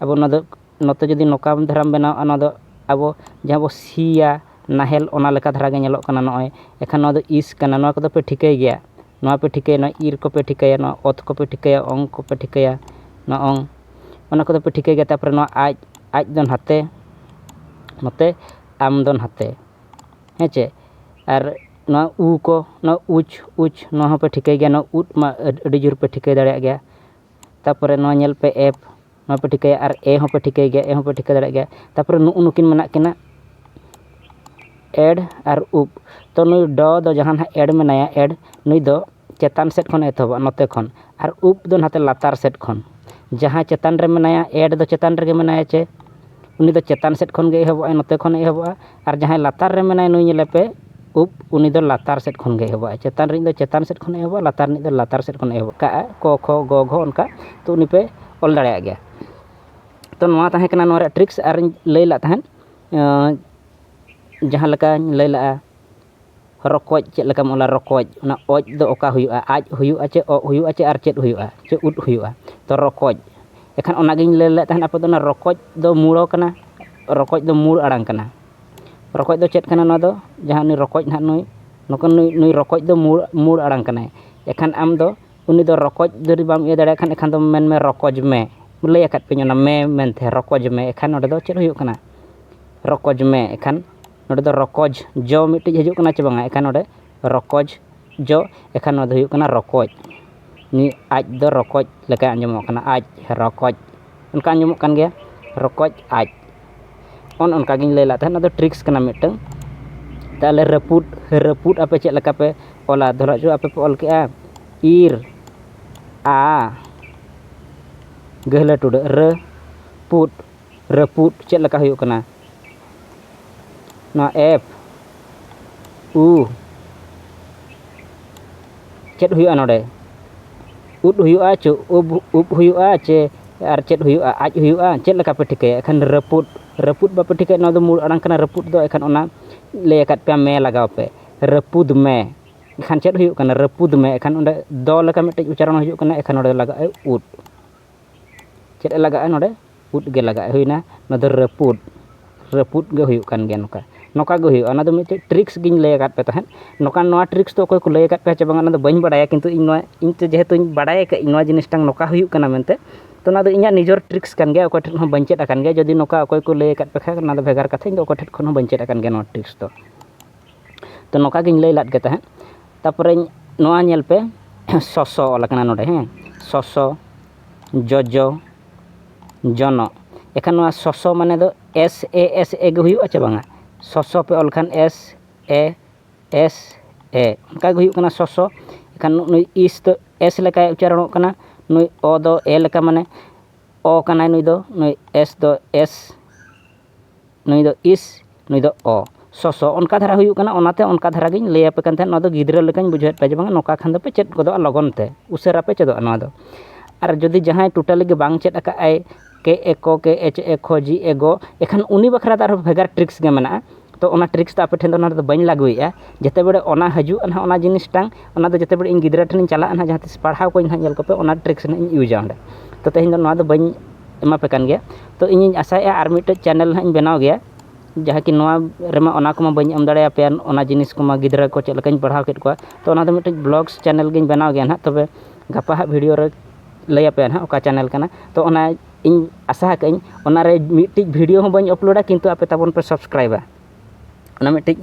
ᱟᱵᱚ ᱚᱱᱟ ᱫᱚ ᱱᱚᱛᱮ ᱡᱩᱫᱤ ᱱᱚᱝᱠᱟ ᱫᱷᱟᱨᱟᱢ ᱵᱮᱱᱟᱣᱟ ᱚᱱᱟ ᱫᱚ ᱟᱵᱚ ᱡᱟᱦᱟᱸ ᱵᱚ ᱥᱤᱭᱟ ᱱᱟᱦᱮᱞ ᱚᱱᱟ ᱞᱮᱠᱟ ᱫᱷᱟᱨᱟ ᱜᱮ ᱧᱮᱞᱚᱜ ᱠᱟᱱᱟ ᱱᱚᱜᱼᱚᱸᱭ ᱮᱱᱠᱷᱟᱱ ᱱᱚᱣᱟ ᱫᱚ ᱤᱥ ᱠᱟᱱᱟ ᱱᱚᱣᱟ ᱠᱚᱫᱚ ᱯᱮ ᱴᱷᱤᱠᱟᱹᱭ ᱜᱮᱭᱟ ᱱᱚᱣᱟ ᱯᱮ ᱴᱷᱤᱠᱟᱹᱭᱟ ᱱᱚᱣᱟ ᱤᱨ ᱠᱚᱯᱮ ᱴᱷᱤᱠᱟᱹᱭᱟ ᱱᱚᱣᱟ ᱚᱛ ᱠᱚᱯᱮ ᱴᱷᱤᱠᱟᱹᱭᱟ ᱚᱝ ᱠᱚᱯᱮ ᱴᱷᱤᱠᱟᱹᱭᱟ ᱱᱚᱣᱟ ᱚᱝ ᱚᱱᱟ ᱠᱚᱫᱚ ᱯᱮ ᱴᱷᱤᱠᱟᱹᱭ ᱜᱮᱭᱟ ᱛᱟᱨᱯᱚᱨᱮ ᱱᱚᱣᱟ ᱟᱡ ᱟᱡ ᱫᱚ ᱱᱷᱟᱛᱮ ᱱᱚᱛᱮ ᱟᱢ ᱫᱚ ᱱᱷᱟᱛᱮ ᱦᱮᱸ ᱪᱮ ᱟᱨ ᱱᱚᱣᱟ ᱩ ᱠᱚ ᱱᱚᱣᱟ ᱩᱪ ᱩᱪ ᱱᱚᱣᱟ ᱦᱚᱸᱯᱮ ᱴᱷᱤᱠᱟᱹᱭ ᱜᱮᱭᱟ ᱱᱚᱣᱟ ᱩᱫ ᱢᱟ ᱟᱹᱰᱤ ᱡᱳᱨ ᱯᱮ ᱴᱷᱤᱠᱟᱹ ᱫᱟᱲᱮᱭᱟᱜ ᱜᱮᱭᱟ ᱛᱟᱨᱯᱚᱨᱮ ᱱᱚᱣᱟ ᱧᱮᱞ ᱯᱮ ᱮᱯᱷ ᱱᱚᱣᱟ ᱯᱮ ᱴᱷᱤᱠᱟᱹᱭᱟ ᱟᱨ ᱮ ᱦᱚᱸᱯᱮ ᱴᱷᱤᱠᱟᱹᱭ ᱜᱮᱭᱟ ᱮ ᱦᱚᱸᱯᱮ ᱴᱷᱤᱠᱟᱹ ᱫᱟᱲᱮᱭᱟᱜ ᱜᱮᱭᱟ ᱛᱟᱨᱯᱚᱨᱮ ᱱᱩᱜᱼᱩ ᱱᱩᱠᱤᱱ ᱢᱮᱱᱟᱜ ᱠᱤᱱᱟ ᱮᱰ ᱟᱨ ᱩᱯ ᱛᱚ ᱱᱩᱭ ᱰᱚ ᱫᱚ ᱡᱟᱦᱟᱸ ᱱᱟᱦᱟᱜ ᱮᱰ ᱢᱮᱱᱟᱭᱟ ᱮᱰ ᱱᱩᱭ ᱫᱚ ᱪᱮᱛᱟᱱ ᱥᱮᱫ ᱠᱷᱚᱱᱮ ᱮᱛᱚᱦᱚᱵᱟ ᱱᱚᱛᱮ ᱠᱷᱚᱱ ᱟᱨ ᱩᱯ ᱫᱚ ᱱᱟᱛᱮ ᱞᱟᱛᱟᱨ ᱥᱮᱫ ᱠᱷᱚᱱ ᱡᱟᱦᱟᱸᱭ ᱪᱮᱛᱟᱱ ᱨᱮ ᱢᱮᱱᱟᱭᱟ ᱮᱰ ᱫᱚ ᱪᱮᱛᱟᱱ ᱨᱮᱜᱮ ᱢᱮᱱᱟᱭᱟ ᱪᱮ ᱩᱱᱤ ᱫᱚ ᱪᱮᱛᱟᱱ ᱥᱮᱫ ᱠᱷᱚᱱᱜᱮ ᱮᱦᱚᱵᱚᱜᱼᱟᱭ ᱱᱚᱛᱮ ᱠᱷᱚᱱᱮ ᱮᱦᱚᱵᱚᱜᱼᱟ ᱟᱨ ᱡᱟᱦᱟᱸᱭ ᱞᱟᱛᱟᱨ ᱨᱮ ᱢᱮᱱᱟᱭ ᱱᱩᱭ ᱧᱮᱞᱮ ᱯᱮ ᱩᱵ ᱩᱱᱤ ᱫᱚ ᱞᱟᱛᱟᱨ ᱥᱮᱫ ᱠᱷᱚᱱ ᱜᱮ ᱮᱦᱚᱵᱚᱜᱼᱟᱭ ᱪᱮᱛᱟᱱ ᱨᱮᱱᱤᱡ ᱫᱚ ᱪᱮᱛᱟᱱ ᱥᱮᱫ ᱠᱷᱚᱱᱮ ᱮᱦᱚᱵᱚᱜᱼᱟ ᱞᱟᱛᱟᱨ ᱨᱮᱱᱤᱡ ᱫᱚ ᱞᱟᱛᱟᱨ ᱥᱮᱫ ᱠᱷᱚᱱᱮ ᱮᱦᱚᱵᱚᱜᱼᱟ ᱠᱟᱜᱼᱟ ᱠᱚ ᱠᱷᱚ ᱜᱚ ᱜᱷᱚ ᱚᱱᱠᱟ ᱛᱚ ᱩᱱᱤ ᱯᱮ ᱚᱞ ᱫᱟᱲᱮᱭᱟᱜ ᱜᱮᱭᱟ ᱛᱚ ᱱᱚᱣᱟ ᱛᱟᱦᱮᱸ ᱠᱟᱱᱟ ᱱᱚᱣᱟ ᱨᱮᱭᱟᱜ ᱴᱨᱤᱠᱥ ᱟᱨᱤᱧ ᱞᱟᱹᱭ ᱞᱮᱫ ᱛᱟᱦᱮᱸᱫ ᱡᱟᱦᱟᱸ ᱞᱮᱠᱟᱧ ᱞᱟᱹᱭ ᱞᱮᱫᱼᱟ ᱨᱚᱠᱚᱡ ᱪᱮᱫ ᱞᱮᱠᱟᱢ ᱚᱞᱟ ᱨᱚᱠᱚᱡ ᱚᱱᱟ ᱚᱡ ᱫᱚ ᱚᱠᱟ ᱦᱩᱭᱩᱜᱼᱟ ᱟᱡ ᱦᱩᱭᱩᱜᱼᱟ ᱪᱮ ᱚᱜ ᱦᱩᱭᱩᱜᱼᱟ ᱪᱮ ᱟᱨ ᱪᱮᱫ ᱦᱩᱭᱩᱜᱼᱟ ᱪᱮ ᱩᱫ ᱦᱩᱭᱩᱜᱼᱟ ᱛᱚ ᱨᱚᱠᱚᱡ ᱮᱱᱠᱷᱟᱱ ᱚᱱᱟᱜᱤᱧ ᱞᱟᱹᱭ ᱞᱮᱫ ᱛᱟᱦᱮᱱ ᱟᱯᱮ ᱫᱚ ᱚᱱᱟ ᱨᱚᱠᱚᱡ ᱫᱚ ᱢᱩᱲᱚ ᱠᱟᱱᱟ ᱨᱚᱠᱚᱡ ᱫᱚ ᱢᱩᱬ ᱟᱲᱟᱝ ᱠᱟᱱᱟ ᱨᱚᱠᱚᱡ ᱫᱚ ᱪᱮᱫ ᱠᱟᱱᱟ ᱱᱚᱣᱟ ᱫᱚ ᱡᱟᱦᱟᱸ ᱩᱱᱤ ᱨᱚᱠᱚᱡ ᱦᱟᱸᱜ ᱱᱩᱭ ᱱᱩᱠᱩ ᱱᱩᱭ ᱱᱩᱭ ᱨᱚᱠᱚᱡ ᱫᱚ ᱢᱩᱬ ᱢᱩᱬ ᱟᱲᱟᱝ ᱠᱟᱱᱟᱭ ᱮᱱᱠᱷᱟᱱ ᱟᱢ ᱫᱚ ᱩᱱᱤ ᱫᱚ ᱨᱚᱠᱚᱡ ᱡᱩᱫᱤ ᱵᱟᱢ ᱤᱭᱟᱹ ᱫᱟᱲᱮᱭᱟᱭ ᱠᱷᱟᱱ ᱮᱱᱠᱷᱟᱱ ᱫᱚ ᱢᱮᱱ ᱢᱮ ᱨᱚᱠᱚᱡᱽ ᱢᱮ ᱞᱟᱹᱭ ᱟᱠᱟᱫ ᱯᱮᱭᱟᱹᱧ ᱚᱱᱟ ᱢᱮ ᱢᱮᱱᱛᱮ ᱨᱚᱠᱚᱡᱽ ᱢᱮ ᱮᱱᱠᱷᱟᱱ ᱱᱚᱰᱮ ᱫᱚ ᱪᱮᱫ ᱦᱩᱭᱩᱜ ᱠᱟᱱᱟ ᱨᱚᱠᱚᱡᱽ ᱢᱮ ᱮᱱᱠᱷᱟᱱ ᱱᱚᱰᱮ ᱫᱚ ᱨᱚᱠᱚᱡᱽ ᱡᱚ ᱢᱤᱫᱴᱤᱡ ᱦᱤᱡᱩᱜ ᱠᱟᱱᱟ ᱪᱮ ᱵᱟᱝᱟ ᱮᱱᱠᱷᱟᱱ ᱱᱚᱰᱮ ᱨᱚᱠᱚᱡᱽ ᱡᱚ ᱮᱱᱠᱷᱟᱱ ᱱᱚᱣᱟ ᱫᱚ ᱦᱩᱭᱩᱜ ᱠᱟᱱᱟ ᱨᱚᱠᱚᱡ ᱱᱤᱭᱟᱹ ᱟᱡ ᱫᱚ ᱨᱚᱠᱚᱡ ᱞᱮᱠᱟᱭ ᱟᱸᱡᱚᱢᱚᱜ ᱠᱟᱱᱟ ᱟᱡ ᱨᱚᱠᱚᱡ ᱚᱱᱠᱟ ᱟᱸᱡᱚᱢᱚᱜ ᱠᱟᱱ ᱜᱮᱭᱟ ᱨᱚᱠᱚᱡ ᱟᱡ ᱚᱱ ᱚᱱᱠᱟ ᱜᱤᱧ ᱞᱟᱹᱭ ᱞᱮᱫ ᱛᱟᱦᱮᱸᱫ ᱚᱱᱟ ᱫᱚ ᱴᱨᱤᱠᱥ ᱠᱟᱱᱟ ᱢᱤᱫᱴᱟᱹᱝ ᱛᱟᱦᱚᱞᱮ ᱨᱟᱹᱯᱩᱫ ᱨᱟᱹᱯᱩᱫ ᱟᱯᱮ ᱪᱮᱫ ᱞᱮᱠᱟ ᱯᱮ ᱚᱞᱟ ᱫᱷᱚᱨᱚ ᱡᱚ ᱟᱯᱮ ᱯᱮ ᱚᱞ ᱠᱮᱜᱼᱟ ᱤᱨ ᱟ ᱜᱟᱹᱦᱞᱟᱹ ᱴᱩᱰᱟᱹᱜ ᱨᱟᱹ ᱯᱩᱫ ᱨᱟᱹᱯᱩᱫ ᱪᱮᱫ ᱞᱮᱠᱟ ᱦᱩᱭᱩᱜ ᱠᱟᱱᱟ ᱱᱚᱣᱟ ᱮᱯ ᱩ ᱪᱮᱫ ᱦᱩᱭᱩᱜᱼᱟ ᱱᱚᱰᱮ ᱩᱫ ᱦᱩᱭᱩᱜᱼᱟ ᱪᱮ ᱩᱵ ᱩᱵ ᱦᱩᱭᱩᱜᱼᱟ ᱪᱮ ᱟᱨ ᱪᱮᱫ ᱦᱩᱭᱩᱜᱼᱟ ᱟᱡ ᱦᱩᱭᱩᱜᱼᱟ ᱪᱮᱫ ᱞᱮᱠᱟ ᱯᱮ ᱴᱷᱤᱠᱟᱹᱭᱟ ᱮᱠᱷᱟᱱ ᱨᱟᱹᱯᱩᱫ ᱨᱟᱹᱯᱩᱫ ᱵᱟᱯᱮ ᱴᱷᱤᱠᱟᱹᱭᱟ ᱱᱚᱣᱟ ᱫᱚ ᱢᱩᱬ ᱟᱲᱟᱝ ᱠᱟᱱᱟ ᱨᱟᱹᱯᱩᱫ ᱫᱚ ᱮᱠᱷᱟᱱ ᱚᱱᱟ ᱞᱟᱹᱭ ᱟᱠᱟᱫ ᱯᱮᱭᱟ ᱢᱮ ᱞᱟᱜᱟᱣ ᱯᱮ ᱨᱟᱹᱯᱩᱫ ᱢᱮ ᱮᱱᱠᱷᱟᱱ ᱪᱮᱫ ᱦᱩᱭᱩᱜ ᱠᱟᱱᱟ ᱨᱟᱹᱯᱩᱫ ᱢᱮ ᱮᱱᱠᱷᱟᱱ ᱚᱸᱰᱮ ᱫᱚ ᱞᱮᱠᱟ ᱢᱤᱫᱴᱤᱡ ᱩᱪᱪᱟᱨᱚᱱ ᱦᱤᱡᱩᱜ ᱠᱟᱱᱟ ᱮᱱᱠᱷᱟᱱ ᱚᱸᱰᱮ ᱞᱟᱜᱟᱜᱼᱟ ᱩᱫ ᱪᱮᱫ ᱞᱟᱜᱟᱜᱼᱟ ᱱᱚᱰᱮ ᱯᱩᱫ ᱜᱮ ᱞᱟᱜᱟᱜᱼᱟ ᱦᱩᱭᱱᱟ ᱱᱚᱣᱟ ᱫᱚ ᱨᱟᱹᱯᱩᱫ ᱨᱟᱹᱯᱩᱫ ᱜᱮ ᱦᱩᱭᱩᱜ ᱠᱟᱱ ᱜᱮᱭᱟ ᱱᱚᱝᱠᱟ ᱱᱚᱝᱠᱟ ᱜᱮ ᱦᱩᱭᱩᱜᱼᱟ ᱚᱱᱟ ᱫᱚ ᱢᱤᱫᱴᱮᱡ ᱴᱨᱤᱠᱥ ᱜᱤᱧ ᱞᱟᱹᱭ ᱟᱠᱟᱫ ᱯᱮ ᱛᱟᱦᱮᱸᱫ ᱱᱚᱝᱠᱟ ᱱᱚᱣᱟ ᱴᱨᱤᱠᱥ ᱫᱚ ᱚᱠᱚᱭ ᱠᱚ ᱞᱟᱹᱭ ᱟᱠᱟᱫ ᱯᱮᱭᱟ ᱪᱮ ᱵᱟᱝ ᱚᱱᱟ ᱫᱚ ᱵᱟᱹᱧ ᱵᱟᱲᱟᱭᱟ ᱠᱤᱱᱛᱩ ᱤᱧ ᱱᱚᱣᱟ ᱤᱧ ᱛᱮ ᱡᱮᱦᱮᱛᱩ ᱵᱟᱲᱟᱭ ᱟᱠᱟᱫ ᱟᱹᱧ ᱱᱚᱣᱟ ᱡᱤᱱᱤᱥᱴᱟᱝ ᱱᱚᱝᱠᱟ ᱦᱩᱭᱩᱜ ᱠᱟᱱᱟ ᱢᱮᱱᱛᱮ ᱛᱳ ᱚᱱᱟ ᱫᱚ ᱤᱧᱟᱹᱜ ᱱᱤᱡᱮᱨ ᱴᱨᱤᱠᱥ ᱠᱟᱱ ᱜᱮᱭᱟ ᱚᱠᱚᱭ ᱴᱷᱮᱱ ᱦᱚᱸ ᱵᱟᱹᱧ ᱪᱮᱫ ᱟᱠᱟᱱ ᱜᱮᱭᱟ ᱡᱩᱫᱤ ᱱᱚᱝᱠᱟ ᱚᱠᱚᱭ ᱠᱚ ᱞᱟᱹᱭ ᱟᱠᱟᱫ ᱯᱮ ᱠᱷᱟᱡ ᱚᱱᱟ ᱫᱚ ᱵᱷᱮᱜᱟᱨ ᱠᱟᱛᱷᱟ ᱤᱧ ᱫᱚ ᱚᱠᱚᱭ ᱴᱷᱮᱱ ᱠᱷᱚᱱ ᱦᱚᱸ ᱵᱟᱹᱧ ᱪᱮᱫ ᱟᱠᱟᱱ ᱜᱮᱭᱟ ᱱᱚᱣᱟ ᱴᱨᱤᱠᱥ ᱫᱚ ᱛᱚ ᱱᱚᱝᱠᱟ ᱜᱮᱧ ᱞᱟᱹᱭ ᱞᱮᱫ ᱜᱮ ᱛᱟᱦᱮᱸᱫ ᱛᱟᱨᱯᱚᱨᱮ ᱱᱚᱣᱟ ᱧᱮᱞ ᱯᱮ ᱥᱚᱥᱚ ᱚᱞ ᱟᱠᱟᱱᱟ ᱱᱚᱰᱮ ᱦᱮᱸ ᱥᱚᱥᱚ ᱡᱚᱡᱚ ᱡᱚᱱᱚᱜ ᱮᱱᱠᱷᱟᱱ ᱱᱚᱣᱟ ᱥᱚᱥᱚ ᱢᱟᱱᱮ ᱫᱚ ᱮᱥ ᱮ ᱮᱥ ᱮ ᱜᱮ ᱦᱩᱭᱩᱜᱼᱟ ᱪᱮ ᱵᱟᱝᱟ ᱥᱚᱥᱚ ᱯᱮ ᱚᱞ ᱠᱷᱟᱱ ᱮᱥ ᱮ ᱮᱥ ᱮ ᱚᱱᱠᱟ ᱜᱮ ᱦᱩᱭᱩᱜ ᱠᱟᱱᱟ ᱥᱚᱥᱚ ᱮᱱᱠᱷᱟᱱ ᱱᱩᱭ ᱤᱥ ᱫᱚ ᱮᱥ ᱞᱮᱠᱟᱭ ᱩᱪᱪᱟᱨᱚᱱᱚᱜ ᱠᱟᱱᱟ ᱱᱩᱭ ᱚ ᱫᱚ ᱮ ᱞᱮᱠᱟ ᱢᱟᱱᱮ ᱚ ᱠᱟᱱᱟᱭ ᱱᱩᱭ ᱫᱚ ᱱᱩᱭ ᱮᱥ ᱫᱚ ᱮᱥ ᱱᱩᱭ ᱫᱚ ᱤᱥ ᱱᱩᱭ ᱫᱚ ᱚ ᱥᱚᱥᱚ ᱚᱱᱠᱟ ᱫᱷᱟᱨᱟ ᱦᱩᱭᱩᱜ ᱠᱟᱱᱟ ᱚᱱᱟᱛᱮ ᱚᱱᱠᱟ ᱫᱷᱟᱨᱟ ᱜᱤᱧ ᱞᱟᱹᱭ ᱟᱯᱮ ᱠᱟᱱ ᱛᱟᱦᱮᱸᱫ ᱱᱚᱣᱟ ᱫᱚ ᱜᱤᱫᱽᱨᱟᱹ ᱞᱮᱠᱟᱧ ᱵᱩᱡᱷᱟᱹᱣᱮᱫ ᱯᱮᱭᱟ ᱡᱮ ᱵᱟᱝ ᱱᱚᱝᱠᱟ ᱠᱷᱟᱱ ᱫᱚᱯᱮ ᱪᱮᱫ ᱜᱚᱫᱚᱜᱼᱟ ᱞᱚᱜᱚᱱ ᱛᱮ ᱩᱥᱟᱹᱨᱟ ᱯᱮ ᱪᱮᱫᱚᱜᱼᱟ ᱱᱚᱣᱟ ᱫᱚ ᱟᱨ ᱡᱩᱫᱤ ᱡᱟᱦᱟᱸᱭ ᱴᱳᱴᱟᱞᱤ ᱜᱮ ᱵᱟᱝ ᱪᱮᱫ ᱟᱠᱟᱫ ᱟᱭ ᱠᱮ ᱮ ᱠᱚ ᱠᱮ ᱮᱪ ᱮ ᱠᱷᱚ ᱡᱤ ᱮ ᱜᱚ ᱮᱱᱠᱷᱟᱱ ᱩᱱᱤ ᱵᱟᱠᱷᱨᱟ ᱫᱚ ᱟᱨᱦᱚᱸ ᱵᱷᱮᱜᱟᱨ ᱴᱨᱤᱠᱥ ᱜᱮ ᱢᱮᱱᱟᱜᱼᱟ ᱛᱚ ᱚᱱᱟ ᱴᱨᱤᱠᱥ ᱫᱚ ᱟᱯᱮ ᱴᱷᱮᱱ ᱫᱚ ᱱᱚᱰᱮ ᱫᱚ ᱵᱟᱹᱧ ᱞᱟᱹᱜᱩᱭᱮᱫᱼᱟ ᱡᱮᱛᱮ ᱵᱟᱲᱮ ᱚᱱᱟ ᱦᱤᱡᱩᱜᱼᱟ ᱱᱟᱦᱟᱜ ᱚᱱᱟ ᱡᱤᱱᱤᱥᱴᱟᱝ ᱚᱱᱟ ᱫᱚ ᱡᱮᱛᱮ ᱵᱟᱲᱮ ᱤᱧ ᱜᱤᱫᱽᱨᱟᱹ ᱴᱷᱮᱱᱤᱧ ᱪᱟᱞᱟᱜᱼᱟ ᱱᱟᱦᱟᱜ ᱡᱟᱦᱟᱸ ᱛᱤᱥ ᱯᱟᱲᱦᱟᱣ ᱠᱚᱣᱟᱧ ᱱᱟᱦᱟᱜ ᱧᱮᱞ ᱠᱚᱯᱮ ᱚᱱᱟ ᱴᱨᱤᱠᱥ ᱱᱟᱦᱟᱜ ᱤᱧ ᱤᱭᱩᱡᱟ ᱚᱸᱰᱮ ᱛᱚ ᱛᱮᱦᱮᱧ ᱫᱚ ᱱᱚᱣᱟ ᱫᱚ ᱵᱟᱹᱧ ᱮᱢᱟ ᱯᱮ ᱠᱟᱱ ᱜᱮᱭᱟ ᱛᱳ ᱤᱧᱤᱧ ᱟᱥᱟᱭᱮᱫᱼᱟ ᱟᱨ ᱢᱤᱫᱴᱮᱡ ᱪᱮᱱᱮᱞ ᱦᱟᱸᱜ ᱤᱧ ᱵᱮᱱᱟᱣ ᱜᱮᱭᱟ ᱡᱟᱦᱟᱸ ᱠᱤ ᱱᱚᱣᱟ ᱨᱮᱢᱟ ᱚᱱᱟ ᱠᱚᱢᱟ ᱵᱟᱹᱧ ᱮᱢ ᱫᱟᱲᱮ ᱟᱯᱮᱭᱟ ᱚᱱᱟ ᱡᱤᱱᱤᱥ ᱠᱚᱢᱟ ᱜᱤᱫᱽᱨᱟᱹ ᱠᱚ ᱪᱮᱫ ᱞᱮᱠᱟᱧ ᱯᱟᱲᱦᱟᱣ ᱠᱮᱫ ᱠᱚᱣᱟ ᱛᱳ ᱚᱱᱟᱫᱚ ᱢᱤᱫᱴᱤᱡ ᱵᱞᱚᱜᱽᱥ ᱪᱮᱱᱮᱞ ᱜᱮᱧ ᱵᱮᱱᱟᱣ ᱜᱮᱭᱟ ᱦᱟᱸᱜ ᱛᱚᱵᱮ ᱜᱟᱯᱟ ᱦᱟᱸᱜ ᱵᱷᱤᱰᱤᱭᱳ ᱨᱮ ᱞᱟᱹᱭ ᱟᱯᱮᱭᱟ ᱦᱟᱸᱜ ᱚᱠᱟ ᱪᱮᱱᱮᱞ ᱠᱟᱱᱟ ᱛᱳ ᱚᱱᱟ ᱤᱧ ᱟᱥᱟ ᱟᱠᱟᱫ ᱟᱹᱧ ᱚᱱᱟᱨᱮ ᱢᱤᱫᱴᱤᱡ ᱵᱷᱤᱰᱤᱭᱳ ᱦᱚᱸ ᱵᱟᱹᱧ ᱟᱯᱞᱳᱰᱟ ᱠᱤᱱᱛᱩ ᱟᱯᱮ ᱛᱟᱵᱚᱱ ᱯᱮ ᱥᱟᱵᱥᱠᱨᱟᱭᱤᱵᱟ ᱚᱱᱟ ᱢᱤᱫᱴᱤᱡ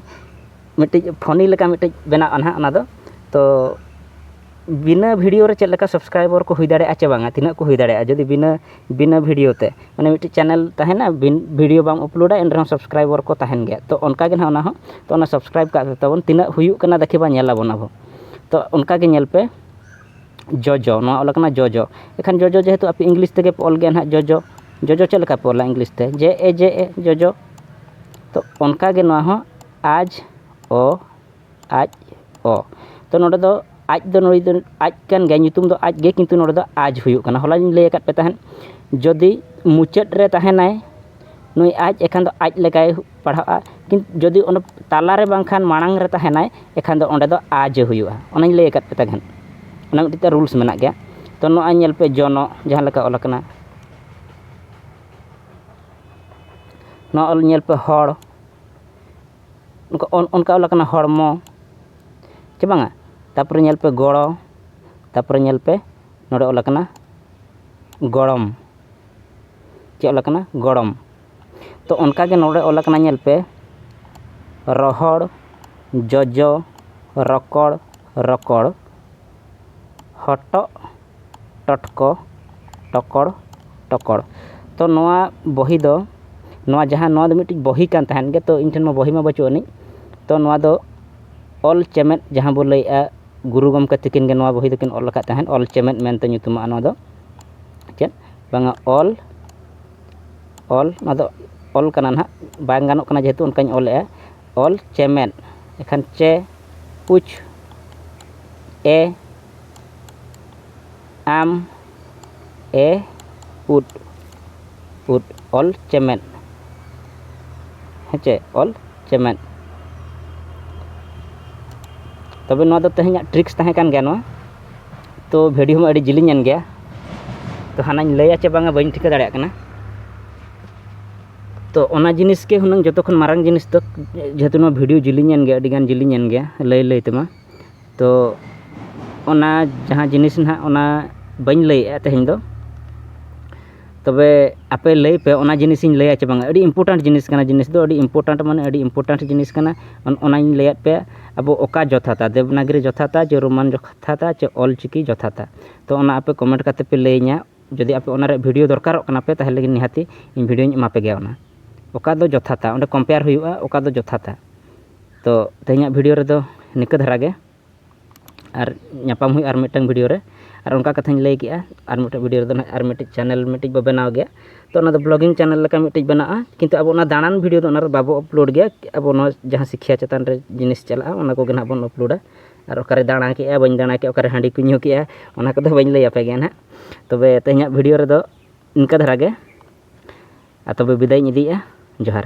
ᱢᱤᱫᱴᱤᱡ ᱯᱷᱳᱱᱤ ᱞᱮᱠᱟ ᱢᱤᱫᱴᱤᱡ ᱵᱮᱱᱟᱜᱼᱟ ᱱᱟᱦᱟᱜ ᱚᱱᱟᱫᱚ ᱛᱚ ᱵᱤᱱᱟᱹ ᱵᱷᱤᱰᱤᱭᱳ ᱨᱮ ᱪᱮᱫ ᱞᱮᱠᱟ ᱥᱟᱵᱥᱠᱨᱟᱭᱵᱟᱨ ᱠᱚ ᱦᱩᱭ ᱫᱟᱲᱮᱭᱟᱜᱼᱟ ᱪᱮ ᱵᱟᱝᱟ ᱛᱤᱱᱟᱹᱜ ᱠᱚ ᱦᱩᱭ ᱫᱟᱲᱮᱭᱟᱜᱼᱟ ᱡᱩᱫᱤ ᱵᱤᱱᱟᱹ ᱵᱤᱱᱟᱹ ᱵᱷᱤᱰᱤᱭᱳ ᱛᱮ ᱢᱟᱱᱮ ᱢᱤᱫᱴᱤᱡ ᱪᱮᱱᱮᱞ ᱛᱟᱦᱮᱱᱟ ᱵᱷᱤᱰᱤᱭᱳ ᱵᱟᱢ ᱟᱯᱞᱳᱰᱟ ᱮᱱ ᱨᱮᱦᱚᱸ ᱥᱟᱵᱥᱠᱨᱟᱭᱵᱟᱨ ᱠᱚ ᱛᱟᱦᱮᱱ ᱜᱮᱭᱟ ᱛᱚ ᱚᱱᱠᱟᱜᱮ ᱱᱟᱦᱟᱜ ᱚᱱᱟ ᱦᱚᱸ ᱛᱚ ᱚᱱᱟ ᱥᱟᱵᱥᱠᱨᱟᱭᱤᱵᱽ ᱠᱟᱜ ᱛᱟᱵᱚᱱ ᱛᱤᱱᱟᱹᱜ ᱦᱩᱭᱩᱜ ᱠᱟᱱᱟ ᱫᱮᱠᱷᱤ ᱵᱟ ᱧᱮᱞ ᱟᱵᱚᱱ ᱟᱵᱚ ᱛᱚ ᱚᱱᱠᱟᱜᱮ ᱧᱮᱞ ᱯᱮ ᱡᱚᱡᱚ ᱱᱚᱣᱟ ᱚᱞ ᱟᱠᱟᱱᱟ ᱡᱚᱡᱚ ᱮᱱᱠᱷᱟᱱ ᱡᱚᱡᱚ ᱡᱮᱦᱮᱛᱩ ᱟᱯᱮ ᱤᱝᱞᱤᱥ ᱛᱮᱜᱮ ᱯᱮ ᱚᱞ ᱜᱮᱭᱟ ᱦᱟᱸᱜ ᱡᱚᱡᱚ ᱡᱚᱡᱚ ᱪᱮᱫ ᱞᱮᱠᱟ ᱯᱮ ᱚᱞᱟ ᱤᱝᱞᱤᱥ ᱛᱮ ᱡᱮ ᱮ ᱡᱮ ᱮ ᱡᱚᱡᱚ ᱛᱚ ᱚᱱᱠᱟ ᱜᱮ ᱱᱚᱣᱟ ᱦᱚᱸ ᱟᱡᱽ ᱚ ᱟᱡᱽ ᱚ ᱛᱚ ᱱᱚᱰᱮ ᱫᱚ ᱟᱡᱽ ᱫᱚ ᱱᱩᱭ ᱫᱚ ᱟᱡᱽ ᱠᱟᱱ ᱜᱮᱭᱟᱭ ᱧᱩᱛᱩᱢ ᱫᱚ ᱟᱡᱽ ᱜᱮ ᱠᱤᱱᱛᱩ ᱱᱚᱰᱮ ᱫᱚ ᱟᱡᱽ ᱦᱩᱭᱩᱜ ᱠᱟᱱᱟ ᱦᱚᱞᱟ ᱞᱤᱧ ᱞᱟᱹᱭ ᱟᱠᱟᱫ ᱯᱮ ᱛᱟᱦᱮᱸᱫ ᱡᱩᱫᱤ ᱢᱩᱪᱟᱹᱫ ᱨᱮ ᱛᱟᱦᱮᱱᱟᱭ ᱱᱩᱭ ᱟᱡᱽ ᱮᱱᱠᱷᱟᱱ ᱫᱚ ᱟᱡᱽ ᱞᱮᱠᱟᱭ ᱯᱟᱲᱦᱟᱜᱼᱟ ᱡᱩᱫᱤ ᱚᱱᱟ ᱛᱟᱞᱟ ᱨᱮ ᱵᱟᱝᱠᱷᱟᱱ ᱢᱟᱲᱟᱝ ᱨᱮ ᱛᱟᱦᱮᱱᱟᱭ ᱮᱱᱠᱷᱟᱱ ᱫᱚ ᱚᱸᱰᱮ ᱫᱚ ᱟᱡ ᱮ ᱦᱩᱭᱩᱜᱼᱟ ᱚᱱᱟᱧ ᱞᱟᱹᱭ ᱟᱠᱟᱫ ᱯᱮ ᱛᱟᱦᱮᱸᱫ ᱚᱱᱟ ᱢᱤᱫᱴᱤᱡ ᱛᱟᱭ ᱨᱩᱞᱥ ᱢᱮᱱᱟᱜ ᱜᱮᱭᱟ ᱛᱳ ᱱᱚᱜᱼᱚᱭ ᱧᱮᱞ ᱯᱮ ᱡᱚᱱᱚᱜ ᱡᱟᱦᱟᱸ ᱞᱮᱠᱟ ᱚᱞ ᱟᱠᱟᱱᱟ ᱱᱚᱣᱟ ᱚᱞ ᱧᱮᱞ ᱯᱮ ᱦᱚᱲ ᱚᱱᱠᱟ ᱚᱞ ᱟᱠᱟᱱᱟ ᱦᱚᱲᱢᱚ ᱪᱮ ᱵᱟᱝᱟ ᱛᱟᱨᱯᱚᱨᱮ ᱧᱮᱞ ᱯᱮ ᱜᱚᱲᱚ ᱛᱟᱨᱯᱚᱨᱮ ᱧᱮᱞ ᱯᱮ ᱱᱚᱰᱮ ᱚᱞ ᱟᱠᱟᱱᱟ ᱜᱚᱲᱚᱢ ᱪᱮᱫ ᱚᱞ ᱟᱠᱟᱱᱟ ᱜᱚᱲᱚᱢ ᱛᱚ ᱚᱱᱠᱟ ᱜᱮ ᱱᱚᱰᱮ ᱚᱞ ᱟᱠᱟᱱᱟ ᱧᱮᱞ ᱯᱮ ᱨᱚᱦᱚᱲ ᱡᱚᱡᱚ ᱨᱚᱠᱚᱲ ᱨᱚᱠᱚᱲ ᱦᱚᱴᱚᱜ ᱴᱚᱴᱠᱚ ᱴᱚᱠᱚᱲ ᱴᱚᱠᱚᱲ ᱛᱚ ᱱᱚᱣᱟ ᱵᱚᱦᱤ ᱫᱚ ᱱᱚᱣᱟ ᱡᱟᱦᱟᱸ ᱱᱚᱣᱟ ᱫᱚ ᱢᱤᱫᱴᱤᱡ ᱵᱚᱦᱤ ᱠᱟᱱ ᱛᱟᱦᱮᱱ ᱜᱮᱭᱟ ᱛᱚ ᱤᱧ ᱴᱷᱮᱱ ᱢᱟ ᱵᱚᱦᱤ ᱢᱟ ᱵᱟᱹᱪᱩᱜ ᱟᱹᱱᱤᱡ ᱛᱚ ᱱᱚᱣᱟ ᱫᱚ ᱚᱞ ᱪᱮᱢᱮᱫ ᱡᱟᱦᱟᱸ ᱵᱚᱱ ᱞᱟᱹᱭᱮᱫᱼᱟ ᱜᱩᱨᱩ ᱜᱚᱢᱠᱮ ᱛᱟᱹᱠᱤᱱ ᱜᱮ ᱱᱚᱣᱟ ᱵᱚᱦᱤ ᱫᱚᱠᱤᱱ ᱚᱞ ᱟᱠᱟᱫ ᱛᱟᱦᱮᱸᱫ ᱚᱞ ᱪᱮᱢᱮᱫ ᱢᱮᱱᱛᱮ ᱧᱩᱛᱩᱢᱟᱜᱼᱟ ᱱᱚᱣᱟ ᱫᱚ ᱪᱮᱫ ᱵᱟᱝᱟ ᱚᱞ ᱚᱞ ᱟᱫᱚ ᱚᱞ ᱠᱟᱱᱟ ᱱᱟᱦᱟᱜ ᱵᱟᱝ ᱜᱟᱱᱚᱜ ᱠᱟᱱᱟ ᱡᱮᱦᱮᱛᱩ ᱚᱱᱠᱟᱧ ᱚᱞᱮᱜᱼᱟ ᱚᱞ ᱪᱮᱢᱮᱫ ᱮᱱᱠᱷᱟᱱ ᱪᱮ ᱯᱩᱪ ᱮ ᱟᱢ ᱮ ᱩᱫ ᱩᱫ ᱚᱞ ᱪᱮᱢᱮᱫ ᱦᱮᱸᱪᱮ ᱚᱞ ᱪᱮᱢᱮᱫ ᱛᱚᱵᱮ ᱱᱚᱣᱟ ᱫᱚ ᱛᱮᱦᱮᱧᱟᱜ ᱴᱨᱤᱠᱥ ᱛᱟᱦᱮᱸ ᱠᱟᱱ ᱜᱮᱭᱟ ᱱᱚᱣᱟ ᱛᱚ ᱵᱷᱤᱰᱤᱭᱳ ᱢᱟ ᱟᱹᱰᱤ ᱡᱤᱞᱤᱧ ᱮᱱ ᱜᱮᱭᱟ ᱛᱚ ᱦᱟᱱᱟᱧ ᱞᱟᱹᱭᱟ ᱪᱮ ᱵᱟᱝᱟ ᱵᱟᱹᱧ ᱴᱷᱤᱠᱟᱹ ᱫᱟᱲᱮᱭᱟᱜ ᱠᱟᱱᱟ ᱛᱚ ᱚᱱᱟ ᱡᱤᱱᱤᱥ ᱜᱮ ᱦᱩᱱᱟᱹᱝ ᱡᱚᱛᱚ ᱠᱷᱚᱱ ᱢᱟᱨᱟᱝ ᱡᱤᱱᱤᱥ ᱫᱚ ᱡᱮᱦᱮᱛᱩ ᱱᱚᱣᱟ ᱵᱷᱤᱰᱤᱭᱳ ᱡᱤᱞᱤᱧ ᱮᱱ ᱜᱮᱭᱟ ᱟᱹᱰᱤ ᱜᱟᱱ ᱡᱤᱞᱤᱧ ᱮᱱ ᱜᱮᱭᱟ ᱞᱟᱹᱭ ᱞᱟᱹᱭ ᱛᱮᱢᱟ ᱛᱚ ᱚᱱᱟ ᱡᱟᱦᱟᱸ ᱡᱤᱱᱤᱥ ᱦᱟᱸᱜ ᱚᱱᱟ ᱵᱟᱹᱧ ᱞᱟᱹᱭᱮᱜᱼᱟ ᱛᱮᱦᱮᱧ ᱫᱚ ᱛᱚᱵᱮ ᱟᱯᱮ ᱞᱟᱹᱭ ᱯᱮ ᱚᱱᱟ ᱡᱤᱱᱤᱥ ᱤᱧ ᱞᱟᱹᱭᱟ ᱪᱮ ᱵᱟᱝ ᱟᱹᱰᱤ ᱤᱢᱯᱳᱨᱴᱮᱱᱴ ᱡᱤᱱᱤᱥ ᱠᱟᱱᱟ ᱡᱤᱱᱤᱥ ᱫᱚ ᱟᱹᱰᱤ ᱤᱢᱯᱳᱨᱴᱮᱱᱴ ᱢᱟᱱᱮ ᱟᱹᱰᱤ ᱤᱢᱯᱳᱨᱴᱮᱱᱴ ᱡᱤᱱᱤᱥ ᱠᱟᱱᱟ ᱚᱱᱟᱧ ᱞᱟᱹᱭᱟᱫ ᱯᱮᱭᱟ ᱟᱵᱚ ᱚᱠᱟ ᱡᱚᱛᱷᱟᱛᱟ ᱫᱮᱵᱽᱱᱟᱜᱚᱨᱤ ᱡᱚᱛᱷᱟᱛᱟ ᱪᱮ ᱨᱳᱢᱟᱱ ᱡᱚᱛᱷᱟᱛᱟ ᱪᱮ ᱚᱞ ᱪᱤᱠᱤ ᱡᱚᱛᱷᱟᱛᱟ ᱛᱚ ᱚᱱᱟ ᱟᱯᱮ ᱠᱚᱢᱮᱱᱴ ᱠᱟᱛᱮᱫ ᱯᱮ ᱞᱟᱹᱭ ᱤᱧᱟᱹ ᱡᱩᱫᱤ ᱟᱯᱮ ᱚᱱᱟ ᱨᱮᱭᱟᱜ ᱵᱷᱤᱰᱭᱳ ᱫᱚᱨᱠᱟᱨᱚᱜ ᱠᱟᱱᱟ ᱯᱮ ᱛᱟᱦᱚᱞᱮ ᱜᱮ ᱱᱤᱦᱟᱹᱛᱤ ᱤᱧ ᱵᱷᱤᱰᱭᱳᱧ ᱮᱢᱟ ᱯᱮᱜᱮᱭᱟ ᱚᱱᱟ ᱚᱠᱟ ᱫᱚ ᱡᱚᱛᱷᱟᱛᱟ ᱚᱸᱰᱮ ᱠᱚᱢᱯᱮᱭᱟᱨ ᱦᱩᱭᱩᱜᱼᱟ ᱚᱠᱟ ᱫᱚ ᱡᱚᱛᱷᱟᱛᱟ ᱛᱚ ᱛᱮᱦᱮᱧᱟᱜ ᱵᱷᱤᱰᱭᱳ ᱨᱮᱫᱚ ᱱᱤᱝᱠᱟᱹ ᱫᱷᱟᱨᱟ ᱜᱮ ᱟᱨ ᱧᱟᱯᱟᱢ ᱦᱩᱭᱩᱜᱼᱟ ᱟᱨ ᱢᱤᱫᱴᱟᱝ ᱵᱷᱤᱰᱤᱭᱳ ᱨᱮ ᱟᱨ ᱚᱱᱠᱟ ᱠᱟᱛᱷᱟᱧ ᱞᱟᱹᱭ ᱠᱮᱫᱼᱟ ᱟᱨ ᱢᱤᱫᱴᱮᱱ ᱵᱷᱤᱰᱤᱭᱳ ᱨᱮᱫᱚ ᱦᱟᱸᱜ ᱟᱨ ᱢᱤᱫᱴᱤᱡ ᱪᱮᱱᱮᱞ ᱢᱤᱫᱴᱤᱡ ᱵᱚᱱ ᱵᱮᱱᱟᱣ ᱜᱮᱭᱟ ᱛᱳ ᱚᱱᱟᱫᱚ ᱵᱞᱚᱜᱤᱝ ᱪᱮᱱᱮᱞ ᱞᱮᱠᱟ ᱢᱤᱫᱴᱤᱡ ᱵᱮᱱᱟᱜᱼᱟ ᱠᱤᱱᱛᱩ ᱟᱵᱚ ᱚᱱᱟ ᱫᱟᱬᱟᱱ ᱵᱷᱤᱰᱤᱭᱳ ᱫᱚ ᱚᱱᱟ ᱨᱮᱫᱚ ᱵᱟᱵᱚ ᱟᱯᱞᱳᱰ ᱜᱮᱭᱟ ᱟᱵᱚ ᱱᱚᱣᱟ ᱡᱟᱦᱟᱸ ᱥᱤᱠᱠᱷᱟ ᱪᱮᱛᱟᱱ ᱨᱮ ᱡᱤᱱᱤᱥ ᱪᱟᱞᱟᱜᱼᱟ ᱚᱱᱟ ᱠᱚᱜᱮ ᱦᱟᱸᱜ ᱵᱚᱱ ᱟᱯᱞᱳᱰᱟ ᱟᱨ ᱚᱠᱟᱨᱮ ᱫᱟᱬᱟ ᱠᱮᱫᱼᱟ ᱵᱟᱹᱧ ᱫᱟᱬᱟ ᱠᱮᱫᱼᱟ ᱚᱠᱟᱨᱮ ᱦᱟᱺᱰᱤ ᱠᱚᱧ ᱧᱩ ᱠᱮᱫᱼᱟ ᱚᱱᱟ ᱠᱚᱫᱚ ᱵᱟᱹᱧ ᱞᱟᱹᱭ ᱟᱯᱮ ᱠᱟᱱᱟ ᱦᱟᱸᱜ ᱛᱚᱵᱮ ᱛᱮᱦᱮᱧᱟᱜ ᱵᱷᱤᱰᱤᱭᱳ ᱨᱮᱫᱚ ᱤᱱᱠᱟᱹ ᱫᱷᱟᱨᱟ ᱜᱮ ᱟᱨ ᱛᱚᱵᱮ ᱵᱤᱫᱟᱹᱭᱤᱧ ᱤᱫᱤᱭᱮᱫᱼᱟ ᱡᱚᱦᱟᱨ